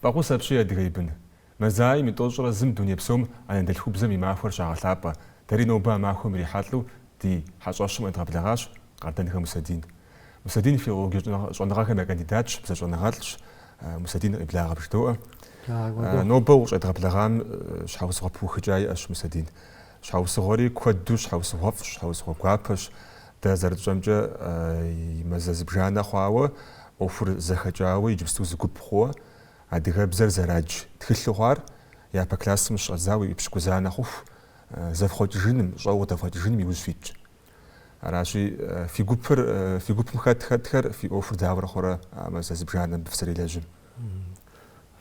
Фӏэхъус апщий, адыгэ бын. Мазаим и тӏощӏрэ зым дуней псом анэдэлъхубзэм и махуэр щагъэлъапӏэ. Дэри нобэ а махуэм ирихьэлӏэу ди хьэщӏэщым къедгъэблэгъащ Къардэнхэ Мусэдин. Мусэдин филологие щӏэныгъэхэм я кандидатщ, бзэщӏэныгъэлӏщ. Мусэдин къеблагъэ бжыдоӏэ. Нобэ укъыщӏедгъэблэгъам щхьэусыгъуэ пыухыкӏа иӏэщ, Мусэдин? Щхьэусыгъуэри куэду щхьэусыгъуэфӏщ, щхьэусыгъуэ гуапэщ. Дэ зэрытщӏэмкӏэ, и мазэ зыбжанэ хъуауэ, ӏуэхур зэхэкӏауэ иджыпсту зы гуп хъууэ, адыгэбзэр зэрадж тхылъу хъуар, япэ классым щыщӏэдзауэ епщыкӏузанэ хъуху, зэфхъуэкӏыжыным, щӏэуэ къыдэфхъуэкӏыжыным и ужь фитщ. Аращи, фи гупыр, фи гупым хэт хэтхэр, фи ӏуэхур дауэрэ хъурэ а мазэ зыбжанэм абы фызэрелэжьым?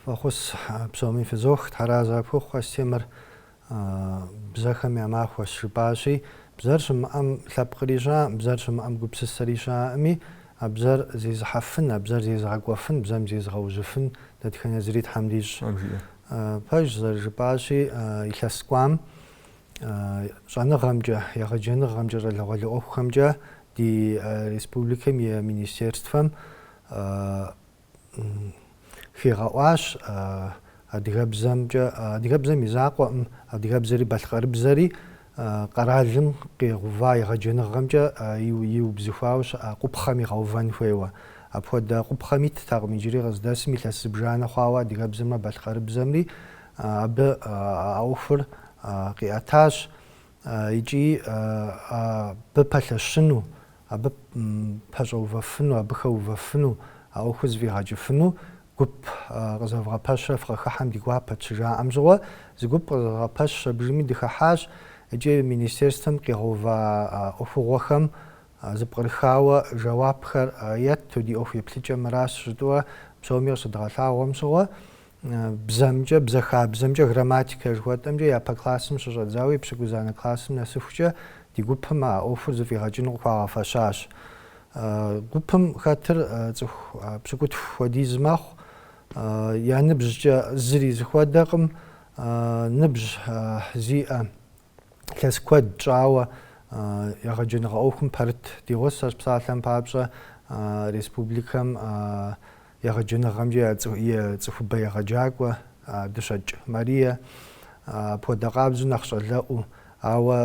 Фӏэхъус, псоми фызох, тхьэразэ къыпхухъу, Астемыр А бзэхэм я махуэщ, жыпӏащи, бзэр щымыӏэм лъэпкъри щыӏэкъым, бзэр щымыӏэм гупсысэри щыӏэкъыми, а бзэр зезыхьэфын, а бзэр зезыгъэкӏуэфын, бзэм зезыгъэужьыфын дэтхэнэ зыри Тхьэм дищӏ. Пэжщ, зэрыжыпӏащи, илъэс кӏуам щӏэныгъэмкӏэ, егъэджэныгъэмкӏэ, щӏалэгъуалэ ӏуэхухэмкӏэ ди республикэм и Министерствэм хигъэӏуащ адыгэбзэмкӏэ, адыгэбзэм и закъуэкъым, адыгэбзэри балъкъэрыбзэри къэралым къигъэува егъэджэныгъэмкӏэ иубзыхуауэ щыӏа къупхъэм игъэувэн хуейуэ. Апхуэдэ къупхъэм иттэкъым иджыри къыздэсым илъэс зыбжанэ хъуауэ адыгэбзэмрэ балъкъэрыбзэмри абы а ӏуэхур къиӏэтащ. икӏи абы пэлъэщыну, абы пэщӏэувэфыну, абы хэувэфыну, а ӏуэхур зэфӏигъэкӏыфыну гуп къызэвгъэпэщрэ фыкъыхыхьэм ди гуапэт щыжаӏэм щыгъуэ, зы гуп къызэдгъэпэщщ, абдежми дыхыхьащ икӏи министерствэм къигъэува ӏуэхугъуэхэм зыпкърыхауэ жэуапхэр етту, ди ӏуэху еплъыкӏэ мыращ жытӏэурэ псоми къыщыдгъэлъагъуэм щыгъуэ, бзэмкӏэ, бзэ хабзэмкӏэ, грамматикэ жыхуэтӏэмкӏэ япэ классым щыщӏэдзауэ епщыкӏузанэ классым нэсыхукӏэ ди гупым а ӏуэхур зыфӏигъэкӏыну къыхуагъэфэщащ. Гупым хэтыр цӏыху пщыкӏутху хуэдиз мэхъу, я ныбжькӏэ зыри зыхуэдэкъым, ныбжь зиӏэ лъэс куэд щӏауэ егъэджэныгъэ ӏуэхум пэрыт ди гъусэщ псалъэм папщӏэ республикэм егъэджэныгъэмкӏэ и цӏыхубэ егъэджакӏуэ Дыщэкӏ Марие апхуэдэ къабзэу нэхъ щӏалэӏуэу, ауэ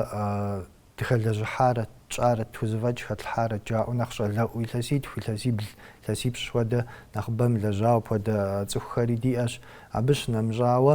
дыхэлэжьыхьарэт, тщӏарэт, тхузэфӏэкӏ хэтлъхьарэт жаӏэу нэхъ щӏалэӏуэу, илъэситху, илъэсибл, илъэсипщӏ хуэдэ нэхъыбэ мылэжьауэ апхуэдэ цӏыхухэри диӏэщ. Абы щынэмыщӏауэ,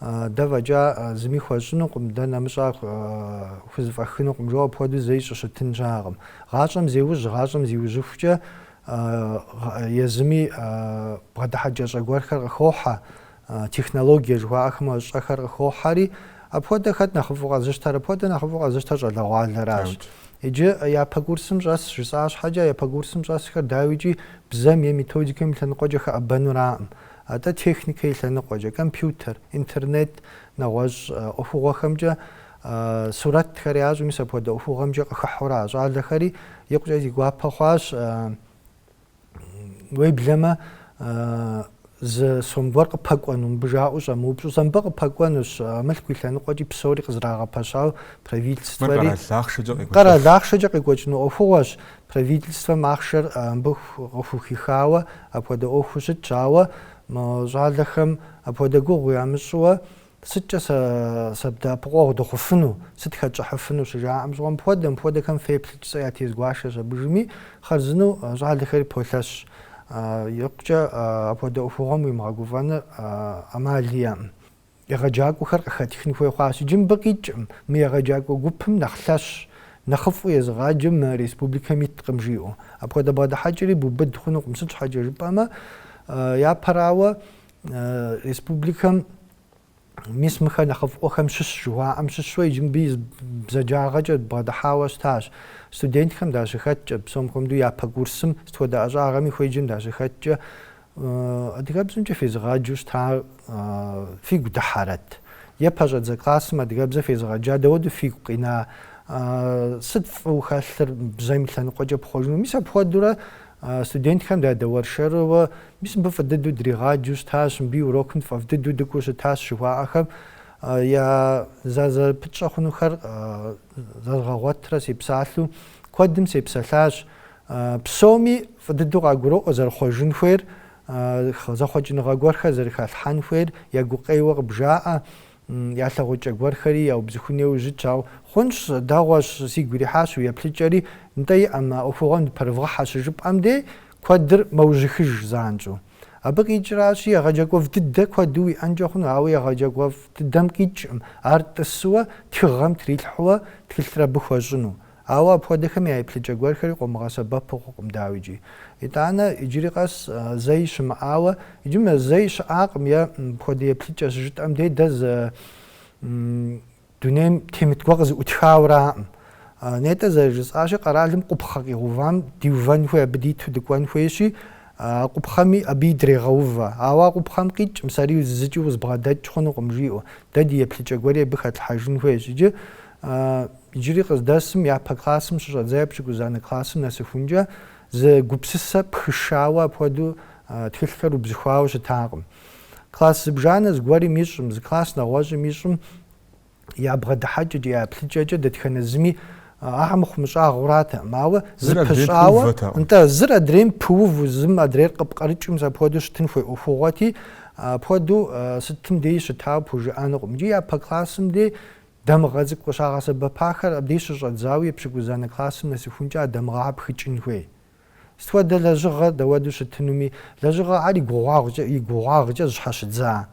Дэ фӏэкӏа зыми хуэщӏынукъым, дэ нэмыщӏа хузэфӏэкӏынукъым, жо апхуэдэу зэи щыщытын щыӏэкъым. Гъащӏэм зеужь, гъащӏэм зиужьыхукӏэ езыми бгъэдыхьэкӏэщӏэ гуэрхэр къыхохьэ, технологие жыхуаӏэхэм щӏэхэр къыхохьэри, апхуэдэ хэт нэхъыфӏу къэзыщтэр? Апхуэдэ нэхъыфӏу къэзыщтэр щӏалэгъуалэращ. Иджы япэ курсым щӏэс жысӏа щхьэкӏэ, япэ курсым щӏэсхэр, дауикӏи, бзэм е методикэм и лъэныкъуэкӏэ хэӏэбэнураӏым. Атӏэ техникэ и лъэныкъуэкӏэ, компьютер, интернет, нэгъуэщӏ ӏуэхугъуэхэмкӏэ сурэтхэри ящӏ, мис апхуэдэ ӏуэхугъуэмкӏэ къыхыхьэурэ а щӏалэхэри икъукӏэ зи гуапэ хъуащ, уеблэмэ зы сом гуэр къыпэкӏуэну, мыбы жаӏэу щӏэмыупщӏэу, сэ мыбы къыпэкӏуэнущ, а мылъку и лъэныкъуэкӏи псори къызрагъэпэщауэ правительствэри. Мыр къэрал ахъшэкӏэ къекӏуэкӏыну ӏуэхугъуэщ, Правительствэм ахъшэр мыбы къыхухихауэ апхуэдэ ӏуэхуу щытщ, ауэ мы щӏалэхэм апхуэдэ гугъу ямыщӏыуэ сыткӏэ дэӏэпыкъуэгъу дыхъуфыну, сыт хэтщӏыхьыфыну щыжаӏэм щӏыгъуэ мыпхуэдэ, мыпхуэдэхэм феплъыт, сэ ятез гуэшащ абы жыми, хъарзынэу щӏалэхэри полъэщ, икъукӏэ апхуэдэ ӏуэхугъуэм уимыгъэгуфӏэныр ӏэмал иӏэӏым. Егъэджакӏуэхэр къыхэтхын хуей хъуащ. Иджы мыбы къикӏкъым, мы егъэджакӏуэ гупым нэхъ лъэщ, нэхъыфӏу езыгъаджэ мы республикэм иткъым жиӏэу. Апхуэдэ бгъэдыхьэкӏэри бубыд хъунукъым, сыт щхьэкӏэ жыпӏэмэ, япэрауэ, республикэм мис мыхэр нэхъыфӏыуэхэм щыщ жыхуаӏэм щыщу иджы мыбы и зы бзаджагъэкӏэ бгъэдыхьауэ щытащ. Студентхэм дащыхэткӏэ, псом хуэмыдэу япэ курсым сыт хуэдэ ӏэщӏагъэми хуеджэм дащыхэткӏэ, Адыгэбзэмкӏэ фезыгъаджэу щытар фигу дыхьэрэт? Е пэщӏэдзэ классым адыгэбзэ фезыгъаджа дауэрэ фигу къина? Сыт фӏыу хэлъыр бзэм и лъэныкъуэкӏэ пхъуэжыну? Мис апхуэдэурэ студентхэм дадэуэршэрыуэ мис мыбы фӏы дыдэу дригъаджэу щытащ, мыбы и урокым тфӏэфӏ дыдэу дыкӏуэу щытащ жыхуаӏэхэм я зэрызэпытщӏэ хъунухэр зэзгъэгъуэтрэ сепсалъэу куэдым сепсэлъащ. Псоми фӏы дыдэу къагуроӏуэ зэрыхъуэжын хуейр, зэхъуэкӏыныгъэ гуэрхэр зэрыхалъхьэн хуейр я гукъеуэ къыбжаӏэ, я лъагъуэкӏэ гуэрхэри яубзыхун хуейуэ щытщ, ауэ хъунщ, дэгъуэщ, сигу ирихьащ уи еплъыкӏэри, нтӏэ иӏэ, мы ӏуэхугъуэм дыпэрывгъыхьэ щыжыпӏэм дей куэдыр мэужьыхыж занщӏэу. Абы къикӏращи, егъэджакӏуэфӏ дыдэ куэду уиӏэнкӏэ хъуну, ауэ егъэджакӏуэфӏ дыдэм къикӏкъым ар тӏысуэ тхыгъэм трилъхьуэ тхылъыр абы хуэщӏыну. Ауэ апхуэдэхэм я еплъыкӏэ гуэрхэри къомыгъэсэбэпу хъукъым, дауикӏи. Итӏанэ, иджыри къэс зэи щымыӏауэ, иджы мыр зэи щыӏакъым, е мыпхуэдэ еплъыкӏэ щыжытӏэм дей дэ зы дунейм темыт гуэр къызэӏутхауэ аракъым. Нетӏэ зэрыжысӏащи, къэралым къупхъэ къигъувам диувэн хуей, абы диту дыкӏуэн хуейщи, а къупхъэми абы идрегъэувэ. Ауэ а къупхъэм къикӏ, мис ари зыкӏи узыбгъэдэкӏ хъунукъым, жиӏэу. Дэ ди еплъыкӏэ гуэри абы хэтлъхьэжын хуейщ. Иджы А иджыри къыздэсым япэ классым щыщӏэдзауэ пщыкӏузанэ классым нэсыхункӏэ зы гупсысэ пхышауэ апхуэдэу тхылъхэр убзыхуауэ щытакъым. Класс зыбжанэ зыгуэрым ищӏым, зы класс нэгъуэщӏым ищӏым я бгъэдыхьэкӏэкӏэ, я еплъыкӏэкӏэ дэтхэнэ зыми ахэр мыхъумыщӏагъэу аратэкъым. Ауэ зэпыщӏауэ, нтӏэ, зыр адрейм пыуву, зым адрейр къыпкърыкӏыу, мис апхуэдэу щытын хуей ӏуэхугъуэти, апхуэдэу сытым деи щытауэ пхужыӏэнукъым. Иджы япэ классым дей Дамыгъэ цӏыкӏу къыщагъэсэбэпахэр абдей щыщӏэдзауэ пщыкӏузанэ классым нэсыхункӏэ а дамыгъэхэр пхыкӏын хуей. Сыт хуэдэ лэжьыгъэ дэуэду щытынуми, лэжьыгъэхэр и гугъуагъкӏэ, и гугъуагъкӏэ зыщхьэщыдза,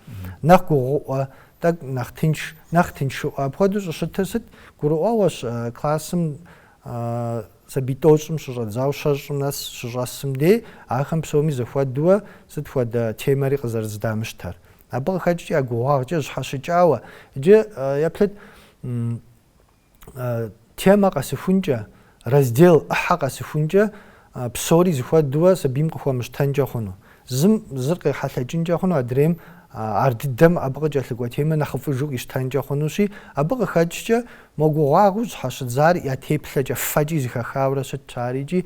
нэхъ гугъуӏуэ, тӏэкӏу нэхъ тынш, нэхъ тыншыӏуэ, апхуэдэу щӏыщытыр сыт? Гурыӏуэгъуэщ классым сабий тӏощӏым щыщӏэдзауэ щэщӏым нэс щыщӏэсым дей ахэм псоми зэхуэдууэ сыт хуэдэ темэри къызэрыздамыщтэр. Абы къыхэкӏкӏэ я гугъуагъкӏэ зыщхьэщыкӏауэ, иджы еплъыт темэ къэсыхункӏэ, раздел, ӏыхьэ къэсыхункӏэ псори зыхуэдууэ сабийм къыхуэмыщтэнкӏэ хъуну. Зым зыр къехьэлъэкӏынкӏэ хъуну, адрейм ар дыдэм абы къыкӏэлъыкӏуэ темэ нэхъыфӏыжу къищтэнкӏэ хъунущи, абы къыхэкӏкӏэ мо гугъуагъыу зыщхьэщыдзар я теплъэкӏэ, фэкӏи зыхэхауэрэ щытщ ар икӏи.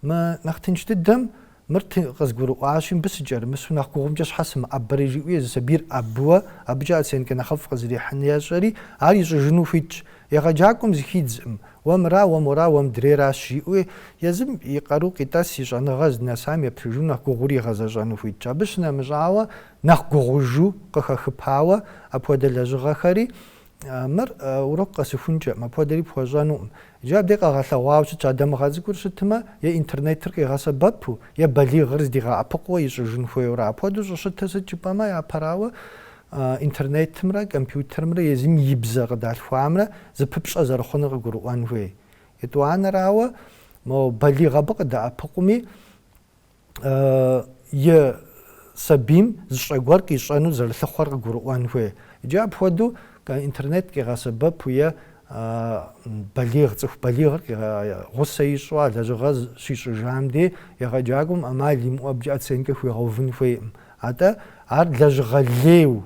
Мы нэхъ тынш дыдэм, Мыр ты, къызгурыӏуащи, мыбы сыкӏэрымысу нэхъ гугъумкӏэ щхьэ сымыӏэбэри? жиӏэу езы сабийр ӏэбыуэ, абыкӏэ оценкэ нэхъыфӏ къызэрихьын ещӏэри, ар ищӏыжыну хуитщ. Егъэджакӏуэм зыхидзкъым. Уэ мыра, уэ мора, уэ мыдрейращ, жиӏэуи, езым и къару къитӏэс, и щӏэныгъэ здынэсам еплъыжу нэхъ гугъури игъэзэщӏэну хуитщ. Абы щынэмыщӏауэ, нэхъ гугъужу къыхэхыпауэ апхуэдэ лэжьыгъэхэри, Мыр урок къэсыхункӏэкъым, апхуэдэри пхуэщӏэнукъым. Иджы абдей къэгъэлъэгъуауэ щытщ а дамыгъэ цӏыкӏур щытмэ, е интернетыр къигъэсэбэпу, е балигъыр здигъэӏэпыкъуу ищӏыжын хуейуэрэ. Апхуэдэу щӏыщытыр сыт жыпӏэмэ, япэрауэ, интернетымрэ компьютерымрэ езым и бзэ къыдалъхуамрэ зыпыпщӏэ зэрыхъунур къыгурыӏуэн хуей. Етӏуанэрауэ, мо балигъ абы къыдэӏэпыкъуми, и сабийм зы щӏэ гуэр къищӏэну зэрылъыхъуэр къыгурыӏуэн хуей. Иджы апхуэдэу интернет къигъэсэбэпу е балигъ, цӏыху балигъыр гъусэ ищӏу а лэжьыгъэ щищӏыжам дей егъэджакӏуэм ӏэмал имыӏэу абыкӏэ оценкэ хуигъэувын хуейкъым. Атӏэ ар лэжьыгъэ лейу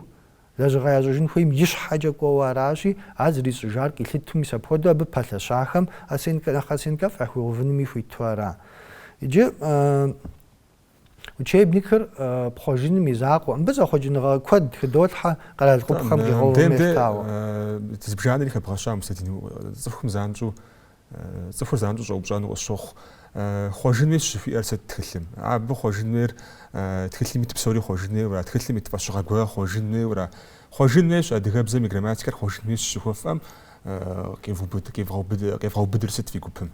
Лэжьыгъэ ящӏыжын хуейм и щхьэкӏэ кӏуэуэ аращи, ар зрищӏыжар къилъыту, мис апхуэдэу абы пэлъэщахэм оценкэ нэхъ оценкэфӏ яхуигъэувынуми хуиту ара? Иджы учебникыр пхъуэжыным и закъуэ, мыбы зэхъуэкӏыныгъэ куэд хыдолъхьэ къэрал къупхъэм къигъэувым елъытауэ. Зыбжанэри хэбгъэща Мусэдин, цӏыхум занщӏэу Цӏыхур занщӏэу щӏэупщӏэну къысщохъу. Хъуэжын хуейщ жыхуиӏэр сыт тхылъым? Абы хъуэжын хуейр тхылъым ит псори хъуэжын хуейуэра, тхылъым ит фӏэщыгъэ гуэрхэр хъуэжын хуейуэра? Хъуэжын хуейщ адыгэбзэм и грамматикэр хъуэжын хуейщ жыхуэфӏэм къевгъэубыдыр сыт фи гупым?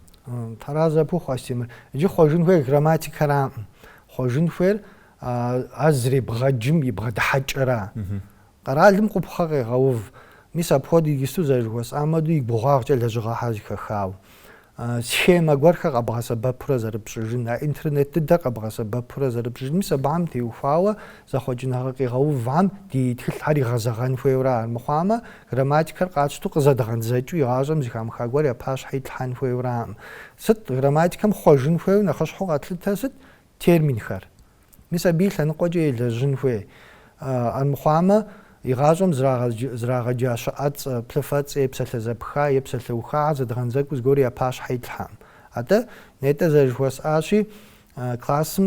Тхьэразэ пхухъу, Астемыр. Иджы хъуэжын хуейр грамматикэраӏым. Хъуэжын хуейр ар зребгъэджым и бгъэдыхьэкӏэра. Къэралым къупхъэ къегъэув. Мис апхуэдэу иджысту зэрыжыхуэсӏам хуэдэу и гугъуагъкӏэ лэжьыгъэхэр зэхэхауэ, схемэ гуэрхэр къэбгъэсэбэпурэ зэрыпщӏыжын, а интернет дыдэр къэбгъэсэбэпурэ зэрыпщӏыжын, мис абыхэм теухуауэ зэхъуэкӏыныгъэ къигъэувхэм ди тхылъхэр игъэзэгъэн хуейуэра армыхъуамэ, грамматикэр къатщту къызэдгъэдзэкӏыу игъащӏэм зыхамыха гуэр я пащхьэ итлъхьэн хуейуэракъым. Сыт грамматикэм хъуэжын хуейуэ нэхъыщхьэу къэтлъытэр сыт? Терминхэр. Мис абы и лъэныкъуэкӏэ елэжьын хуей. Армыхъуамэ, игъащӏэм зрагъэджа щыӏэцӏэ, плъыфэцӏэ, е, псалъэзэпха е псалъэухахэ зэдгъэндзэкӏыу зыгуэр я пащхьэ итлъхьэкъым. Атӏэ, нетӏэ зэрыжыхуэсӏащи, классым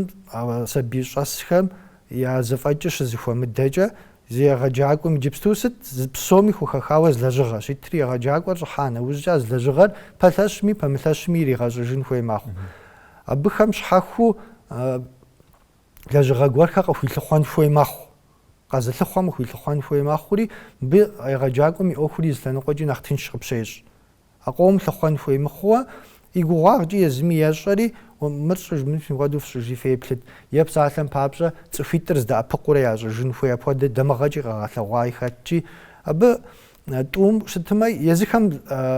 сабий щӏэсхэм я зэфӏэкӏыр щызыхуэмыдэкӏэ, езы егъэджакӏуэм иджыпсту сыт, псоми хухэхауэ зы лэжьыгъэщ итри, егъэджакӏуэр щӏыхьа нэужькӏэ а зы лэжьыгъэр пэлъэщми, пэмылъэщми иригъэщӏыжын хуей мэхъу. Абыхэм щхьэхуэу лэжьыгъэ гуэрхэр къыхуилъыхъуэн хуей мэхъу. Къэзылъыхъуэм къыхуилъыхъуэн хуей мэхъури, мыбы егъэджакӏуэм и ӏуэхури зы лъэныкъуэкӏи нэхъ тынш къыпщещӏ. А къомым лъыхъуэн хуей мыхъууэ, и гугъуагъкӏэ езыми ещӏэри, Мыр щӏыж, мыр мыпхуэдэу фщӏыжи феплъыт. Е псалъэм папщӏэ, цӏыхуитӏыр здэӏэпыкъуурэ ящӏыжын хуей апхуэдэ дамыгъэкӏи къэгъэлъэгъуаи хэтщи, абы тӏум щытымэ, езыхэм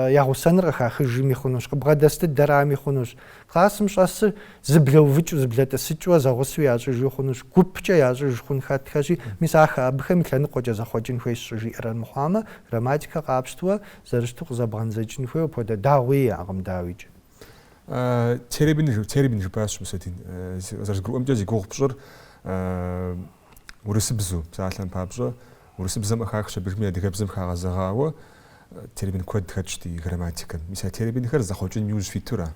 я гъусэнур къыхахыжми хъунущ, къыбгъэдэс дыдэрами хъунущ, классым щӏэсыр зыблэувыкӏыу, зыблэтӏысыкӏыу, зэгъусэу ящӏыжу хъунущ, гупкӏэ ящӏыж хъун хэтхэщи, мис ахэр, абыхэм и лъэныкъуэкӏэ зэхъуэкӏын хуейщ щӏыжиӏэр армыхъуамэ, грамматикэр къапщтэу, зэрыщыту къызэбгъэндзэкӏын хуейуэ апхуэдэ дагъуи иӏэкъым, дауикӏ. Термин, термин жыпӏащ Мусэдин, зэрызгурыӏуэмкӏэ зи гугъу пщӏыр, Урысыбзэу псалъэм папщӏэ, урысыбзэм къыхахщ абыхэми адыгэбзэм хагъэзэгъауэ термин куэд хэтщ ди грамматикэм. Мис а терминхэр зэхъуэкӏыным иужь фитура?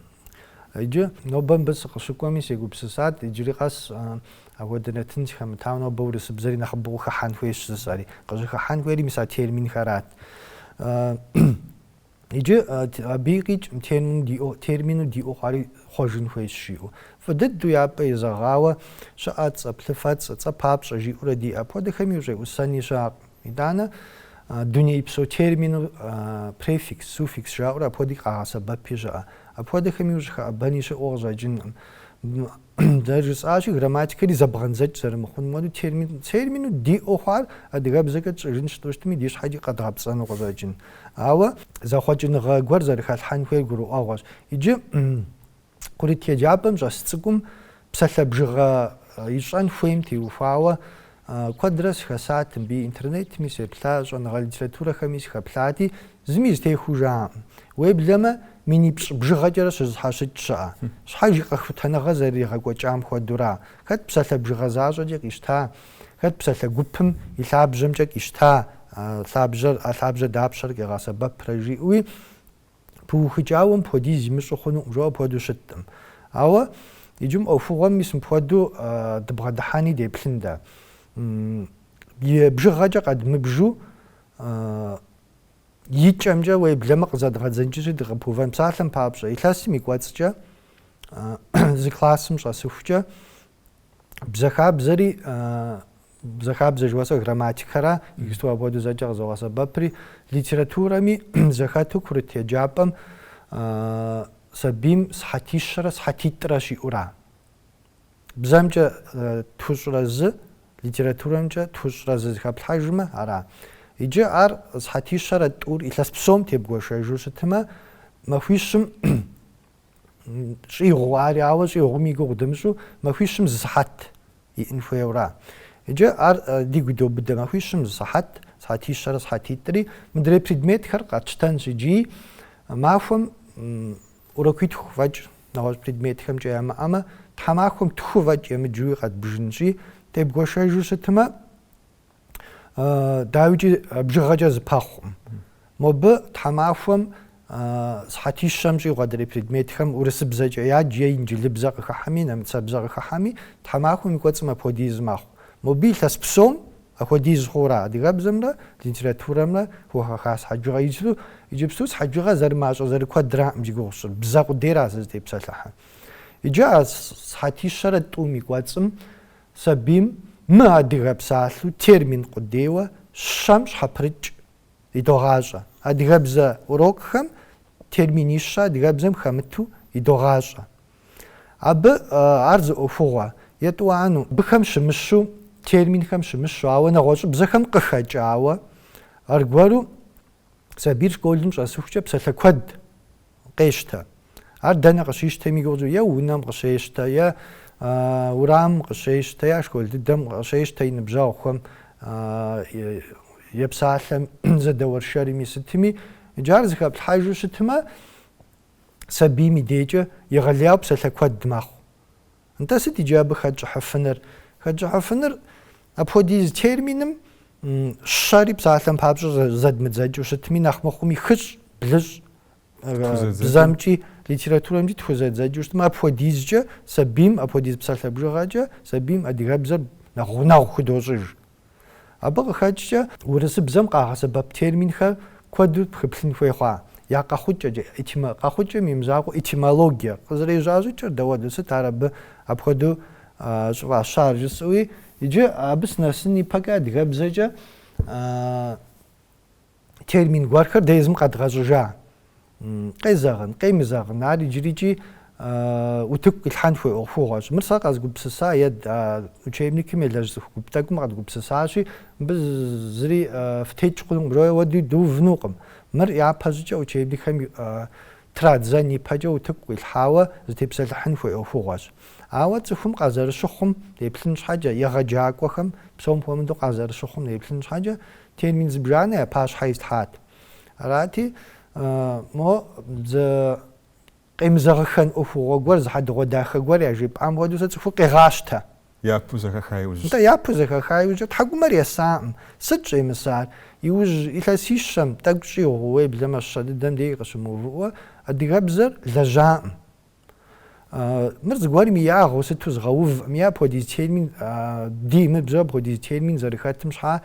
Иджы нобэ мыбы сыкъыщыкӏуэми сегупсысат, иджыри къэс апхуэдэ нэтын сыхэмытауэ нобэ урысыбзэри нэхъыбэу къыхыхьэн хуейщ жысӏэри. Къыщӏыхыхьэн хуейри мис а терминхэрат. Иджы абы къикӏкъым термину, термину диӏэу хъуари хъуэжын хуейщ жиӏэу. Фӏы дыдэу япӏэ езэгъауэ щыӏэ цӏэ, плъыфэцӏэ, цӏэ папщӏэ жиӏэурэ диӏэ. Апхуэдэхэми ущӏеӏусэни щыӏэкъым. Итӏанэ дунейпсо термину префикс, суффикс жаӏэурэ апхуэдэуи къагъэсэбэпи щыӏэ. Апхуэдэхэми ущӏыхэӏэбэни щыӏэу къыщӏэкӏынкъым. Дэ жысӏащи, грамматикэри зэбгъэндзэкӏ зэрымыхъунум хуэдэу, термин, термину диӏэу хъуар адыгэбзэкӏэ тщӏыжын жытӏэу щытми, ди щхьэкӏи къэдгъэпцӏэну къыщӏэкӏын. Ауэ зэхъуэкӏыныгъэ гуэр зэрыхэлъхьэн хуейр гурыӏуэгъуэщ. Иджы курыт еджапӏэм щӏэс цӏыкӏум псалъэ бжыгъэ ищӏэн хуейм теухуауэ Куэдрэ сыхэсат мыбы, интернетми сеплъа, щӏэныгъэ литературэхэми сыхэплъати, зыми зэтехуэу жаӏэкъым. Уеблэмэ, минипщӏ бжыгъэкӏэрэ щызэщхьэщыкӏ щыӏэ. Щхьэж и къэхутэныгъэ зэрыригъэкӏуэкӏам хуэдэура? Хэт псалъэ бжыгъэ защӏэкӏэ къищта? Хэт псалъэ гупым и лъабжьэмкӏэ къищта? Лъабжьэр, а лъабжьэр дапщэрэ къигъэсэбэпрэ? жиӏэуи, пыухыкӏауэ мыпхуэдиз имыщӏу хъунукъым, жо апхуэдэу щыткъым. Ауэ иджы мы ӏуэхугъуэм мис мыпхуэдэу дыбгъэдыхьэни деплъын дэ. И бжыгъэкӏэ къэдмыбжу и кӏэмкӏэ уеблэмэ къызэдгъэдзэнкӏыжи дыкъыпыувэн. Псалъэм папщӏэ, илъэсым и кӏуэцӏкӏэ зы классым щӏэсыхукӏэ бзэхабзэри бзэхабзэ жыхуэсӏэр грамматикэра иджысту апхуэдэу зэкӏэ къызогъэсэбэпри литературэми зэхэту курыт еджапӏэм сабийм сыхьэтищэрэ сыхьэтитӏрэ щиӏура бзэмкӏэ тхущӏрэ зы литературэмкӏэ тхущӏрэ зы зыхэплъхьэжмэ ара иджы ар сыхьэтищэрэ тӏур илъэс псом тебгуэшэжу щытмэ махуищым щӏигъу ари, ауэ щӏигъум и гугъу дымыщӏу махуищым зы сыхьэт иӏын хуейура? Иджы ар дигу добыдэ, махуищым зы сыхьэт, сыхьэтищэрэ сыхьэтитӏри мыдрей предметхэр къэтщтэнщ иджы махуэм урокуитху фӏэкӏ нэгъуэщӏ предметхэмкӏэ ямыӏэмэ, тхьэмахуэм тху фӏэкӏ емыджуи къэтбжынщи, тебгуэшэжу щытмэ, дауикӏи бжыгъэкӏэ зэпэхъукъым. Мобы тхьэмахуэм сыхьэтищэм щӏигъу адрей предметхэм урысыбзэкӏэ ядж е инджылыбзэ къыхыхьэми, нэмыцэбзэ къыхыхьэми, тхьэмахуэм и кӏуэцӏым апхуэдиз мэхъу. Мобы илъэс псом апхуэдиз хъуура адыгэбзэмрэ литературэмрэ хухэха сыхьэт бжыгъэ иджыпсту, иджыпсту сыхьэт бжыгъэ зэрымащӏэ зэрыкуэдраӏым зи гугъу сщӏыр, бзэ къудейра сызытепсэлъыхьыр. Иджы а сыхьэтищэрэ тӏум и кӏуэцӏым Сабийм мыадыгэ псалъэу термин къудейуэ щэм щхьэпрыкӏ идогъащӏэ. Адыгэбзэ урокхэм терминищэ адыгэбзэм хэмыту идогъащӏэ. Абы ар зы ӏуэхугъуэ, етӏуанэу, быхэм щымыщу, терминхэм щымыщу, ауэ нэгъуэщӏыбзэхэм къыхэкӏауэ, аргуэру сабийр школым щӏэсыхукӏэ псалъэ куэд къещтэ. Ар дэнэ къыщищтэми гугъукӏэ е унэм къыщещтэ, е урамым къыщещтэ, е школ дыдэм къыщещтэ и ныбжьэгъухэм е псалъэм зэдэуэршэрми сытми, иджы ар зыхэплъхьэжу щытмэ, сабийм и декӏэ егъэлеяуэ псалъэ куэд мэхъу. Нтӏэ, сыт иджы абы хэтщӏыхьыфыныр? Хэтщӏыхьыфыныр апхуэдиз терминым щэри псалъэм папщӏэ зэдмыдзэкӏыу щытми, нэхъ мыхъуми хыщӏ, блыщӏ, бзэмкӏи, литературэмкӏи тхузэдзэкӏыу щытмэ, апхуэдизкӏэ сабийм, апхуэдиз псалъэ бжыгъэкӏэ сабийм адыгэбзэр нэхъ гъунэгъу худощӏыж. Абы къыхэкӏкӏэ урысыбзэм къагъэсэбэп терминхэр куэду пхыплъын хуей хъуа я къэхъукӏэкӏэ, этимо, къэхъукӏэм и мызакъуэ, этимологие, къызэрежьа щӏыкӏэр дауэду, сыт ар абы апхуэдэу щӏыфӏащар жысӏэуи, иджы абы сынэсын ипэкӏэ адыгэбзэкӏэ термин гуэрхэр дэ езым къэдгъэщӏыжа? Къезэгъын, къемызэгъын, ар иджырикӏи утыку къилъхьэн хуей ӏуэхугъуэщ. Мыр сэ къэзгупсыса е учебникым елэжь цӏыху гуп тӏэкӏум къэдгупсысащи, мыбы зыри фытекӏ хъунукъым, жойуэ уэди дыувынукъым. Мыр япэщӏыкӏэ учебникхэм традзэн ипэкӏэ утыку къилъхьауэ зытепсэлъыхьын хуей ӏуэхугъуэщ. Ауэ цӏыхум къазэрыщыхъум, еплъын щхьэкӏэ, егъэджакӏуэхэм, псом хуэмыдэу къазэрыщыхъум еплъын щхьэкӏэ, Термин зыбжанэ я пащхьэ ислъхьат. Арати, мо зы къемызэгъыххэн ӏуэхугъуэ гуэр, зы хьэдэгъуэдахэ гуэр яжепӏам хуэдэу сэ цӏыхур къегъащтэ. Япэу зэхэха иужькӏэ. Нтӏэ, япэу зэхэха иужькӏэ тхьэкӏумэр есакъым. Сыт щӏемысар? Иужь илъэсищэм тӏэкӏу щӏигъу уеблэмэ щэ дыдэм деж къыщымыувыӏэу адыгэбзэр лэжьакъым. Мыр зыгуэрым и ягъэу сыту згъэувӏым, апхуэдиз термин, ди мыбзэ апхуэдиз термин зэрыхэтым щхьа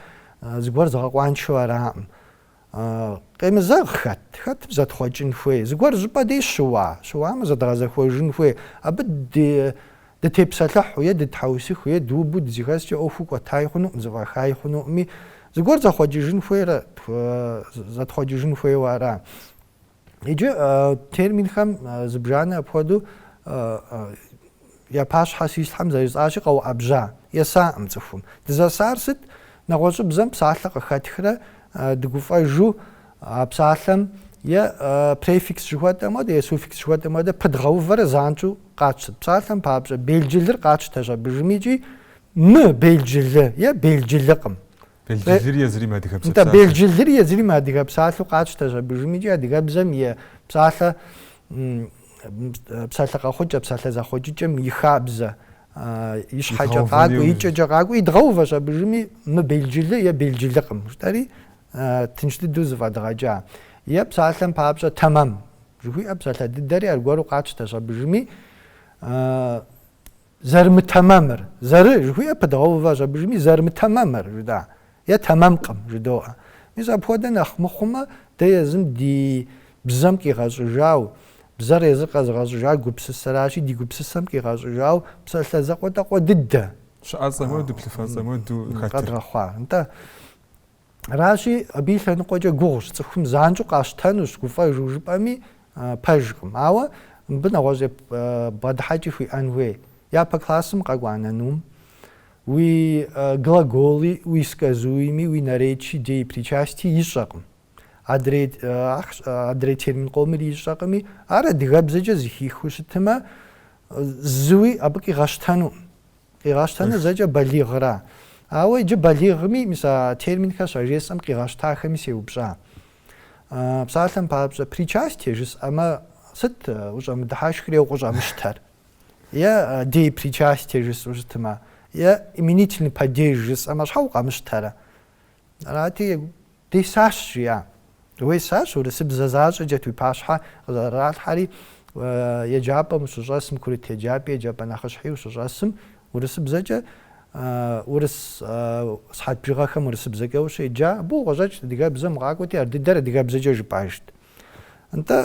зыгуэр згъэкъуаншэу араӏым. Къемызэгъ хэт, хэтмэ зэтхъуэкӏын хуей, зыгуэр щӏыпӏэ дей щыуа, щыуамэ зэдгъэзэхуэжын хуей, абы дытепсэлъыхьу е дытхьэусыху е дыубу дызэхэскӏэ ӏуэху кӏуэтай хъунукъым, зэфӏэхай хъунукъыми, зыгуэр зэхъуэкӏыжын хуейрэ, зэтхъуэкӏыжын хуейуэ ара. Иджы терминхэм зыбжанэ апхуэдэу я пащхьэ щислъхьэм зэрыжысӏащи къэуӏэбжьа, есакъым цӏыхум. Дызэсар сыт? Нэгъуэщӏыбзэм псалъэ къыхэтхрэ дыгуфӏэжу а псалъэм е префикс жыхуэтӏэм хуэдэ, е суффикс жыхуэтӏэм хуэдэ пыдгъэувэрэ занщӏэу къатщтэрт. Псалъэм папщӏэ белджылыр къатщтэщ абы жыми икӏи мы белджылы е белджылыкъым. Белджылыр езыри мыадыгэ псалъэу къатщтэщ абы жыми икӏи адыгэбзэм и псалъэ псалъэ къэхъукӏэ, псалъэ зэхъуэкӏыкӏэм и хабзэ и щхьэкӏэ къакӏуэ, и кӏэкӏэ къакӏуэ, идгъэувэщ абы жыми мы белджылы е белджылыкъым жытӏэри тынш дыдэу зыфӏэдгъэкӏа. Е псалъэм папщӏэ тэмэм жыхуиӏэ псалъэ дыдэри аргуэру къатщтэщ абы жыми Зэрымытэмэмыр. Зэры жыхуиӏэр пыдгъэуващ абы жыми, зэрымытэмэмыр жыдоӏэ, е тэмэмкъым жыдоӏэ. Мис апхуэдэ нэхъ мыхъумэ, дэ езым ди бзэм къигъэщӏыжау, бзэр езыр къэзыгъэщӏыжар гупсысэращи, ди гупсысэм къигъэщӏыжау псалъэ закъуэтӏакъуэ дыдэщ, щыӏэцӏэм хуэдэу, плъыфэцӏэм хуэдэу хэтыр. Къэдгъэхъуар, нтӏэ. Аращи, абы и лъэныкъуэкӏэ гугъущ, цӏыхум занщӏэу къащтэнущ, гуфӏэжу жыпӏэми пэжкъым. Ауэ мыбы нэгъуэщӏ бгъэдыхьэкӏи хуиӏэн хуей. Япэ классым къэкӏуа нанум уи глаголи, уи сказуеми, уи наречи, деепричасти ищӏэкъым. Адрей, адрей термин къомыр ищӏэкъыми, ар адыгэбзэкӏэ зыхихыу щытымэ, зыуи абы къигъэщтэнукъым. Къигъэщтэныр зэкӏэ балигъра? Ауэ иджы балигъми, мис а терминхэр щажесӏэм къигъэщтахэми сеупщӏа. Псалъэм папщӏэ, причастие жысӏэмэ, сыт ущӏэмыдыхьэшхри е укъыщӏэмыщтэр? Е деепричастие жысӏэу щытмэ, е именительный падеж жысӏэмэ, щхьэ укъэмыщтэрэ? Арати, Десащ, жиӏа. Уесащ, урысыбзэ защӏэкӏэт уи пащхьэ къызэралъхьэри, еджапӏэм ущыщӏэсым, курыт еджапӏи еджапӏэ нэхъыщхьи ущыщӏэсым, урысыбзэкӏэ, урыс сыхьэт бжыгъэхэм урысыбзэкӏэ ущеджа, абы укъыщӏэкӏт, адыгэбзэм укъакӏуэти, ар дыдэр адыгэбзэкӏэ жыпӏэжт. Нтӏэ,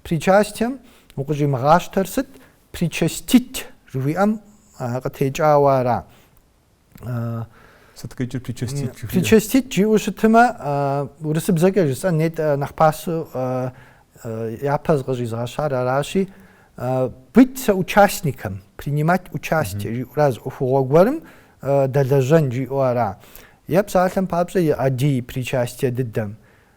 причастием укъыщӏимыгъащтэр сыт? Причастить жыхуиӏэм къытекӏауэ ара? Сыт къикӏыр причастить жыхуиӏэ? Причастить жиӏэу щытымэ, урысыбзэкӏэ жысӏэн нетӏэ нэхъ пасэу япэ зыкъыщӏизыгъэщар аращи, быть соучастником, принимать участие жиӏэурэ а зы ӏуэхугъуэ гуэрым дэлэжьэн жиӏэу ара? Е псалъэм папщӏэ а деепричастие дыдэм.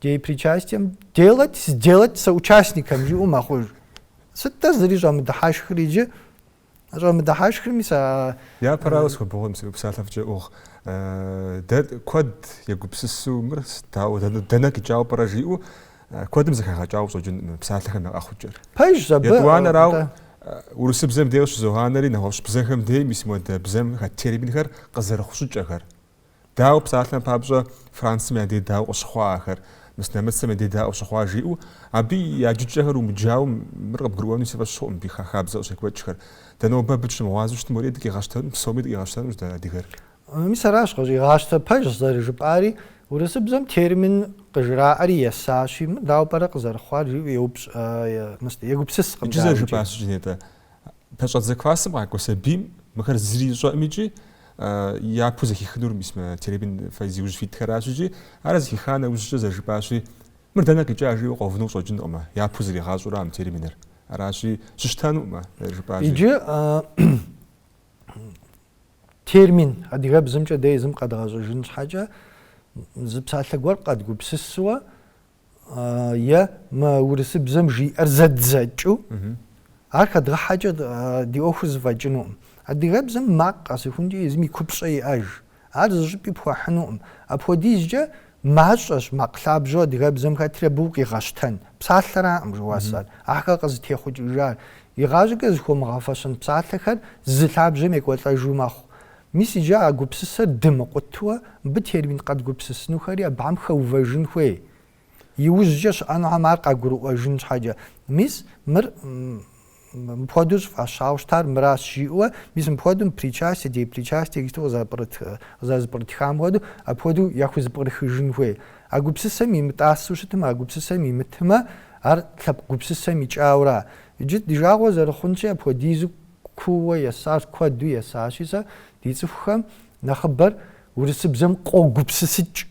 Деепричастием делать, сделать соучастником жиӏэу мэхъуж. Сыт-тӏэ зыри щӏэмыдыхьэшхыр иджы? Щӏэмыдыхьэшхырми сэ... Япэрауэ схуэбыгъуэм си псалъэ фӏыкӏэ ӏугъ. Дэ куэд егупсысу мыр сытауэ, дэнэ кӏыкӏауэ пӏэрэ жиӏэу куэдым зэхэгъэкӏауэ ищӏэкъым мы псалъэхэм я къэхъукӏэр. Пэжщ абы. Етӏуанэрау урысыбзэм дей къыщызогъанэри нэгъуэщӏ бзэхэм дей мис модэ бзэм хэт терминхэр къызэрыхъу щӏыкӏэхэр. Дауэ псалъэм папщӏэ Францым я дей дауэ къыщыхъуа ахэр, мис нэмыцэм я дей дауэ щыхъуа жиӏэу, абы я джыкӏэхэр умыджауэ, мыр къыбгурыӏуэну си фӏэщ хъуӏым, абы хабзэ къыщекӏуэкӏхэр. Дэ нобэ абы дыщымыгъуазэу щытым уэри дыкъигъэщтэнущ, псоми дыкъигъэщтэнущ дэ адыгэр. Мис аращ къыщӏигъащтэр, пэжщ зэрыжыпӏари, урысыбзэм термин къыжраӏэри есащи, мыр дауэ пӏэрэ къызэрыхъуар жиӏэу еупщӏ, егупсыскъым дэ абыкӏи. Иджы зэрыжыпӏар къыщӏэкӏын, нтӏэ. Пэщӏэдзэ классым къакӏуэ сабийм мыхэр зыри ищӏэкъым икӏи япэу зэхихынур мис мы термин фэ зиужь фитхэращ икӏи ар зэхиха нэужькӏэ зэрыжыпӏащи мыр дэнэ къикӏа жиӏэу къэувыну къыщӏэкӏынкъымэ, япэу зригъащӏурэ а мы терминыр. Аращи, щыщтэнукъымэ, зэрыжыпӏащи. Иджы термин адыгэбзэмкӏэ дэ езым къэдгъэщӏыжын щхьэкӏэ зы псалъэ гуэр къэдгупсысуэ е мы урысыбзэм жиӏэр зэддзэкӏыу, ар хэдгъэхьэкӏэ ди ӏуэхур зэфӏэкӏынукъым. Адыгэбзэм макъ къэсыхункӏэ езым и купщӏэ иӏэж. Ар зыщӏыпӏи пхуэхьынукъым. Апхуэдизкӏэ мащӏэщ макъ лъабжьэу адыгэбзэм хэтри абы укъигъэщтэн. Псалъэраӏым жыхуэсӏэр, ахэр къызытехъукӏыжар. Игъащӏэкӏэ зыхуэмыгъэфэщэн псалъэхэр зы лъабжьэм екӏуэлӏэжу мэхъу. Мис иджы а гупсысэр дымыкъутуэ мыбы термин къэдгупсысынухэри абыхэм хэувэжын хуей, иужькӏэ щыӏэнухэм ар къагурыӏуэжын щхьэкӏэ. Мис мыр мыпхуэдэу щӏыфӏащауэ щытар мыращ, жиӏэуэ, мис мыпхуэдэу мы причастие, деепричастие тексту къызэрызэпкърытхам хуэдэу, апхуэдэу яхузэпкърыхыжын хуей. А гупсысэм имытӏасэу щытмэ, а гупсысэм имытмэ, ар лъэпкъ гупсысэм икӏауэра. Иджы ди жагъуэ зэрыхъунщи, апхуэдизу Кууэ есащ, куэду есащи, сэ ди цӏыхухэм нэхъыбэр урысыбзэм къогупсысыкӏ.